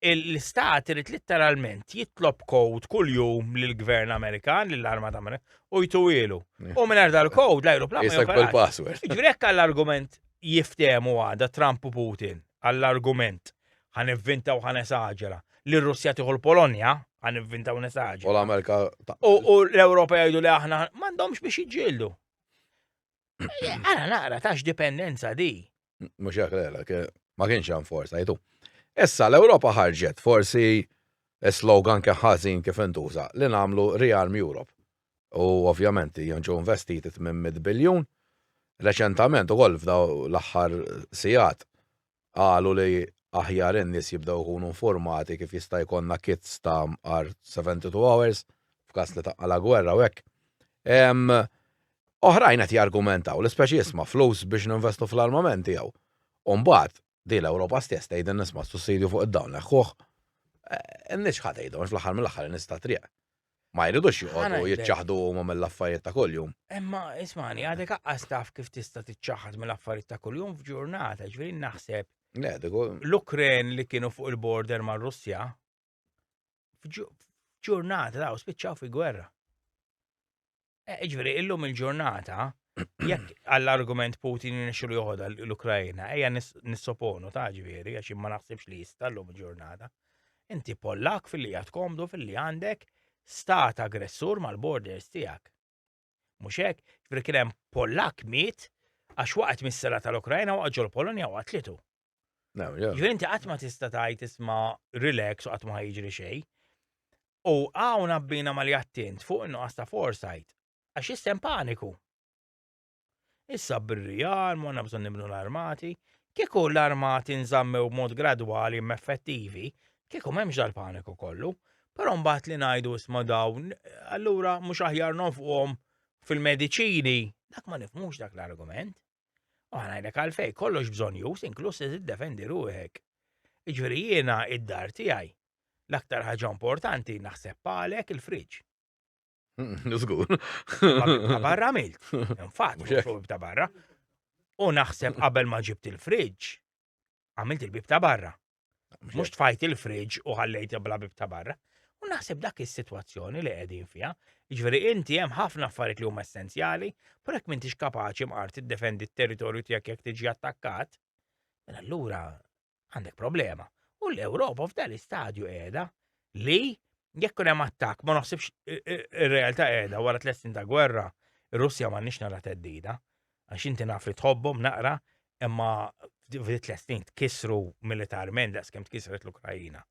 l-istat irid litteralment jitlob kod kuljum lill-Gvern Amerikan, lill-Armata Amerikan, u jtuwilu. U mingħajr dal-kod l-aeroplan. Jisek bil-password. Ġifieri hekk għall-argument jiftehmu għada Trump u Putin għall-argument ħa nivvinta u ħa nesaġera, li r-Russja tieħu l-Polonja, ħa nivvinta u nesaġera. U l-Amerika. U l-Ewropa jgħidu li aħna m'għandhomx biex iġġieldu. Għana naqra tax dipendenza di. Mux jek l-għalek, ma kienx għan forsa, jitu. Issa l-Europa ħarġet, forsi slogan keħħazin kif intuża, li namlu Rearm Europe. U ovvjament jonġu investiti 800 biljun. Reċentament u għol f'daw l-axħar sijat qalu li aħjar in-nies jibdew ikunu nfurmati kif jista' jkollna kits ta' mqar 72 hours f'każ li taqqa' la gwerra u hekk. Oħrajn qed jargumentaw li speċi isma' flus biex ninvestu fl-armament tiegħu. U mbagħad, din l-Ewropa stess tgħidilna isma' s-sussidju fuq id-dawl neħħuh. In-nies x'ħa tgħidhom għax fl-aħħar mill-aħħar in-nies tat-triq Ma jridux joqogħdu jiċċaħdu huma mill-affarijiet ta' kuljum. Imma ismani, għadek aqqas taf kif tista' tiċċaħad mill-affarijiet ta' kuljum f'ġurnata, ġifieri naħseb. L-Ukren li kienu fuq il-border mar-Russja f'ġurnata daw spiċċaw fi gwerra. Eh, Ġveri, illum il-ġurnata, jekk għall-argument Putin nixu li joħodha l-Ukrajina, eja nissoponu ta' ġveri, għax ma naħsibx li jista' illum il-ġurnata. Inti pollak fil-li għat komdu fil-li għandek stat aggressur mal-borders tijak. Muxek, ġveri kienem pollak miet, għax waqt mis-sera tal-Ukrajina waqt ġol Polonia waqt litu. Jiventi qatt ma tista' tgħid isma' relax u qatt ma jiġri xejn. U hawn abbina ma li attint fuq in-nuqqas ta' foresight għax jissem paniku. Issa bir-rijar, monna bżonn nibnu l-armati, kieku l-armati nżammew b'mod gradwali effettivi, kieku m'hemmx dal-paniku kollu, però mbagħad li ngħidu isma' dawn, allura mhux aħjar nonfquhom fil-mediċini, dak ma nifmux dak l-argument. U ngħidlek għalfej, kollox bżonn jus, inkluż li tiddefendi ruħek. Iġveri jiena id-dar tiegħi. L-aktar ħaġa importanti naħseb għalek il-friġġ. Nizgur. Ta' barra milt. Infat, ta' barra. U naħseb qabel ma ġibt il-fridġ, għamilt il-bib ta' barra. Mux tfajt il-fridge u ħallejt bla bib ta' barra. U naħseb dak is-sitwazzjoni li qegħdin fiha, ġveri inti hemm ħafna affarijiet li huma essenzjali, pur hekk m'intix kapaċi mqar tiddefendi t-territorju tiegħek jekk tiġi attakkat, mela allura għandek problema. U l-Ewropa f'dan l-istadju qiegħda li jekk hemm attakk ma naħsibx ir-realtà qiegħda wara tliet snin ta' gwerra, ir-Russja m'għandniex nara teddida. għax inti naf li tħobbhom naqra, imma f'di tliet snin tkissru militarment daqs kemm tkissret l-Ukrajina.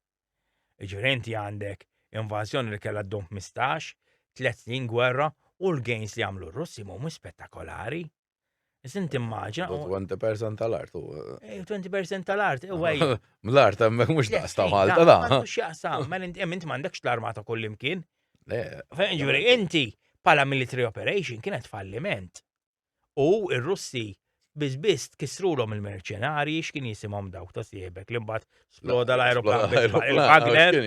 Ġifieri inti għandek invażjoni li kellha ddum 15, tliet snin gwerra u l-gains li għamlu r-Russi mhum spettakolari. Iżin timmaġa. 20% tal-art. 20% eh, tal-art, eh, għaj. Ml-art għemmek mux daqs ta' Malta da. Mux jaqsam, ma inti għemint mandekx l-armata kollimkien. Ġuri, inti pala military operation kienet falliment. U r-Russi biss biss tkissrulhom il-merċenarji x'kien jisimhom dawk ta' siebek li mbagħad sploda l-ajruplan il-Wagner,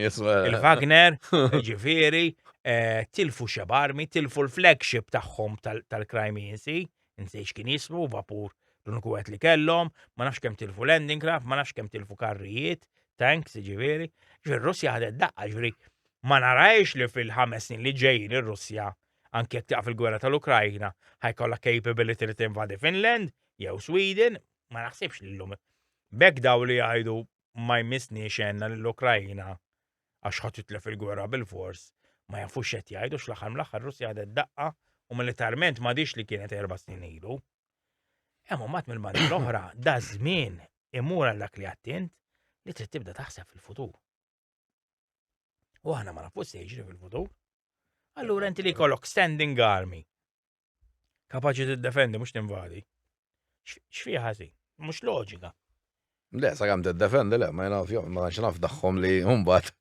il-Wagner, ġifieri, eh, tilfu xebarmi, tilfu l-flagship tagħhom tal-Crimean Sea, insej x'kien jismu vapur l-uniku li kellhom, ma nafx kemm tilfu landing craft, ma nafx kemm tilfu karrijiet, tanks, ġifieri. Ġifieri Russja ħadet daqqa, ġifieri ma narajx li fil-ħames snin li ġejjin ir-Russja Anki jekk tieqaf il-gwerra tal-Ukrajna, ħa jkollha capability li tinvadi Finland jew Sweden, ma naħsibx li llum. B'hekk daw li jgħidu ma jmissniex għenna lill-Ukrajna għax ħa titlef il-gwerra bil-fors, ma jafux x'qed jgħidu x'l-aħħar mill-aħħar ir-Russja ħadet daqqa u militarment m'għadhiex li kienet erba' snin ilu. Hemm mbagħad mill-banda l-oħra da żmien imur għal dak li għattint li trid tibda taħseb fil-futur. U aħna ma nafux se jiġri fil-futur. Allura inti li kollok standing army. Kapaċi tiddefendi mhux tinvadi. X'fi ħażin? Mhux loġika. Le, sa kemm tiddefendi le, ma jnaf jom, ma naf daħħom li mbagħad.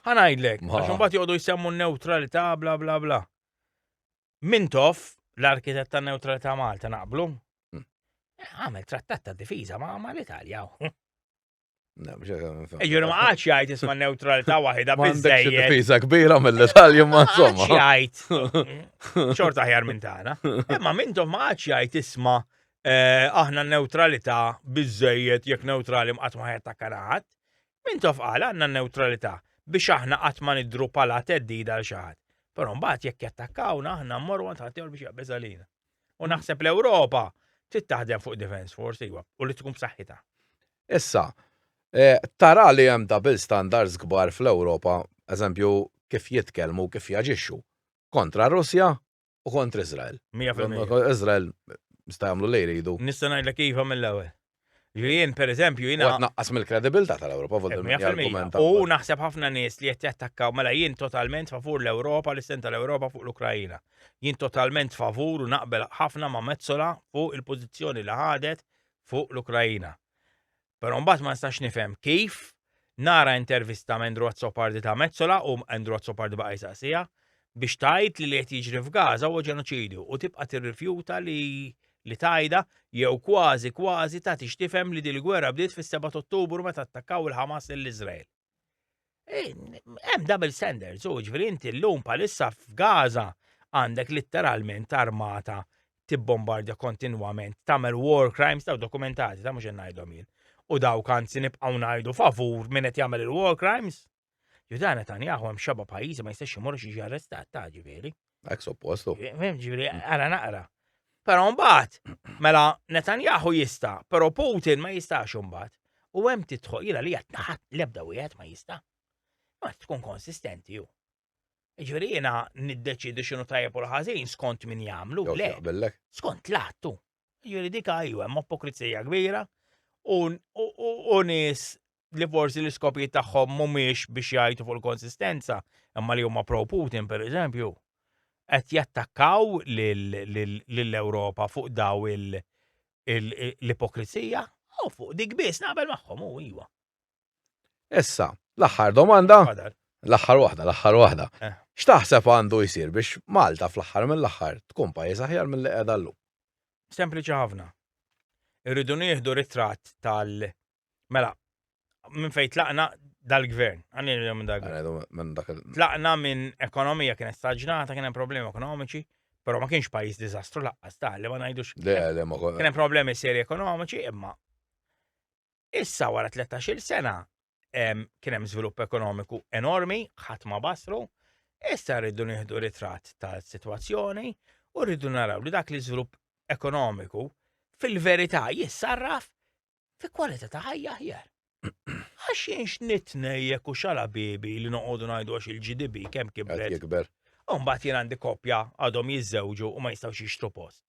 Ħanajdlek, għax mbagħad joqogħdu jsemmu n-neutralità bla bla bla. Mintof, l-arkitett ta' neutralità Malta naqblu. Hmm. Għamel trattat ta' difiża ma' l-Italja. Ġur ma għax jgħid isma neutralita wahida bizzejja. Pisa kbira mill-Italja ma insomma. Għax jgħid. Xorta ħjar minn tagħna. Imma mintom ma għax jgħid isma eh, aħna neutralita bizzejjed jekk neutrali mqat ma ħajja kanaħat. Mintom qal għandna neutralita biex aħna qatt ma nidru pala teddida għal xi ħadd. Però mbagħad jekk jattakkawna aħna mmorru għand ħadd biex jaqbeż għalina. U naħseb l-Ewropa trid taħdem fuq defense force iwa, u li tkun b'saħħitha. Issa, eh, tara li hemm double standards kbar fl-Ewropa, eżempju kif jitkellmu, kif jaġixxu kontra Russja u kontra Izrael. 100%. Izrael sta jagħmlu li jridu. Nista' ngħidlek iva mill-ewwel. Li jien, per eżempju, jina. Għat naqqas mill-kredibilta tal-Europa, volta mill-argumenta. U naħseb ħafna nies li jett jattakkaw, mela jien totalment favur l-Europa, l-isten tal-Europa fuq l-Ukrajina. Jien totalment favur u naqbel ħafna ma' mezzola fuq il-pozizjoni li ħadet fuq l-Ukrajina. Pero mbagħad ma nistax nifhem kif Nara intervista m'Andrew Azzopardi ta' Metsola u Andrew Azzopardi baqa' jsaqsiha biex tgħid li li qed jiġri f'Gaza huwa ġenoċidju u tibqa' tirrifjuta li li tgħidha jew kważi kważi tagħtix tifhem li din il-gwerra bdiet fis-seba' t'Ottubru meta attakkaw il-Ħamas lil Iżrael. Hemm double standards u jiġifieri inti llum bħalissa f'Gaza għandek litteralment armata tibbombardja kontinwament, tagħmel war crimes ta' dokumentati ta' mhux qed ngħidhom jien. U dawk anzi nibqgħu ngħidu favur min qed jagħmel il-war crimes. Ju dan Netanyahu hemm xeba pajjiżi ma jistax imur xi arrestat ta' ġifieri. Ek suppostu. Ġifieri ara naqra. Però mbagħad, mela Netanyahu jista', però Putin ma jistax mbagħad. U hemm tidħol jiena li qed naħat l-ebda wieħed ma jista'. Ma tkun konsistenti ju. Ġifieri jiena niddeċidi x'inhu tajjeb u l-ħażin skont min jagħmlu. Le, skont l-attu. Ġifieri dik għajju hemm apokrizija kbira u nies li forsi l-iskopijiet tagħhom mhumiex biex jgħidu fuq il-konsistenza, imma li huma pro Putin pereżempju, qed jattakkaw lill-Ewropa fuq daw il- l-ipokrizija, u fuq dik biss naqbel magħhom u iva. Issa, l-aħħar domanda, l-aħħar waħda, l-aħħar waħda. Eh. X'taħseb għandu jsir biex Malta fl-aħħar mill-aħħar tkun pajjiż aħjar mill-li qiegħda llum? Sempliċi ħafna. Irridu nieħdu ritratt tal- Mela, minn fejn tlaqna dal-gvern, għanni minn dal-gvern. Tlaqna minn ekonomija kienet staġnata, kien hemm problemi ekonomiċi, però ma kienx pajjiż diżastru laqqas ta' li ma ngħidux. Kien hemm problemi seri ekonomiċi, imma Issa wara 13-il sena kien hemm żvilupp ekonomiku enormi, ħadd ma basru, issa rridu nieħdu ritratt tal-sitwazzjoni u rridu naraw li dak li żvilupp ekonomiku fil-verità jissarraf fi kwalità ta' ħajja ħjar. Għax jinx nitnejjek u xala bibi li noqogħdu ngħidu għax il-GDB kemm kibret. Jikber. Umbat jien għandi koppja għadhom jiżżewġu u ma jistgħux jixtru post.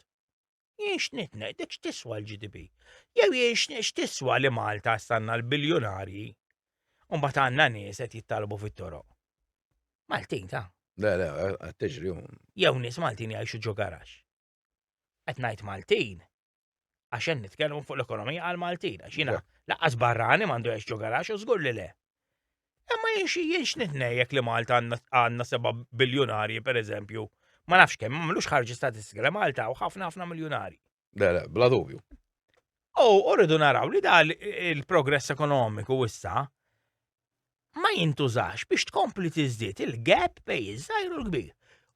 Jien x'nit ngħidlek x'tiswa l-GDP. Jew jien x'tiswa li Malta stanna l-biljunarji u mbagħad għandna nies qed jittalbu fit-toroq. Maltin ta'. Le, le, qed tiġri Jew nies Maltin jgħixu ġo garax. Qed ngħid Maltin għax hemm nitkellmu fuq l-ekonomija għal Maltin għax jiena laqqas barrani m'għandu jgħix ġo garax u żgur li le. Imma jien jien x'nitnejjek li Malta għandna seba' biljunarji pereżempju. Ma nafx kemm, ma mlux ħarġi statistika li Malta u ħafna ħafna miljunarji. Le, le, bla dubju. U rridu naraw li dal il-progress ekonomiku issa ma jintużax biex tkompli tiżdied il-gap bej iż-żgħir u l-kbir.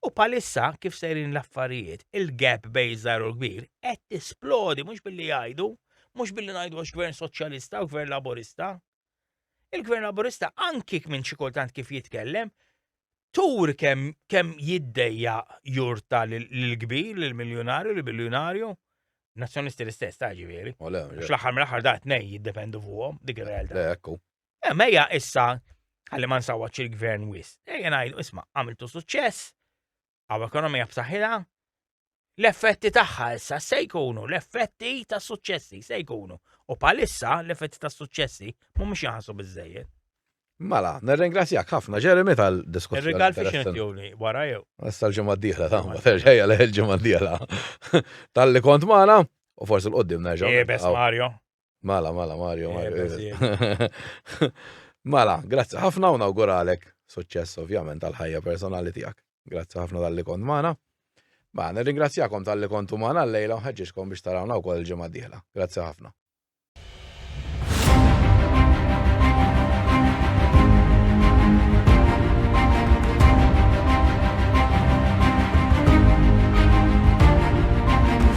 U palissa kif sejrin l-affarijiet, il-gap bej iż-żgħir u l-kbir qed tisplodi mhux billi jgħidu, mhux billi ngħidu għax gvern soċjalista u gvern laburista, Il-Gvern Laburista anki minn xi kultant kif jitkellem, tur kemm kemm jiddejja jurta l-kbir, l-miljonarju, l-biljonarju, nazzjonisti l-istess, ta' ġifieri. Fl-aħħar mill-aħħar da' tnej jiddependu fuqhom dik ir-realtà. Le, ekku. Eh, Mejja issa għalli ma nsawwaċ il-gvern wis. Ejja ngħidu, isma' għamiltu suċċess, għaw ekonomija b'saħħitha, l-effetti tagħha issa se jkunu l-effetti ta' suċċessi se jkunu. U palissa l-effetti ta' suċċessi mhumiex jaħsu biżejjed. Mela, nirringrazzjak ħafna Jeremy tal-diskussjoni. Ir-rigal fi xinetjoni wara jew. Issa l-ġimgħa d-dieħla ta' ma terġejja l ġimgħa d-dieħla. Tal-li kont magħna u forsi l-qoddim nerġa'. Jebes eh, Mario. Mala, mala, Mario, eh, Mario. Mala, grazzi ħafna u nawguralek suċċess ovvjament tal-ħajja personali tiegħek. Grazzi ħafna tal-li kont magħna. Ma, nirringrazzjakom tal-li kontu magħna l-lejla u ħeġġiġkom biex tarawna wkoll il-ġimgħa dieħla. Grazzi ħafna.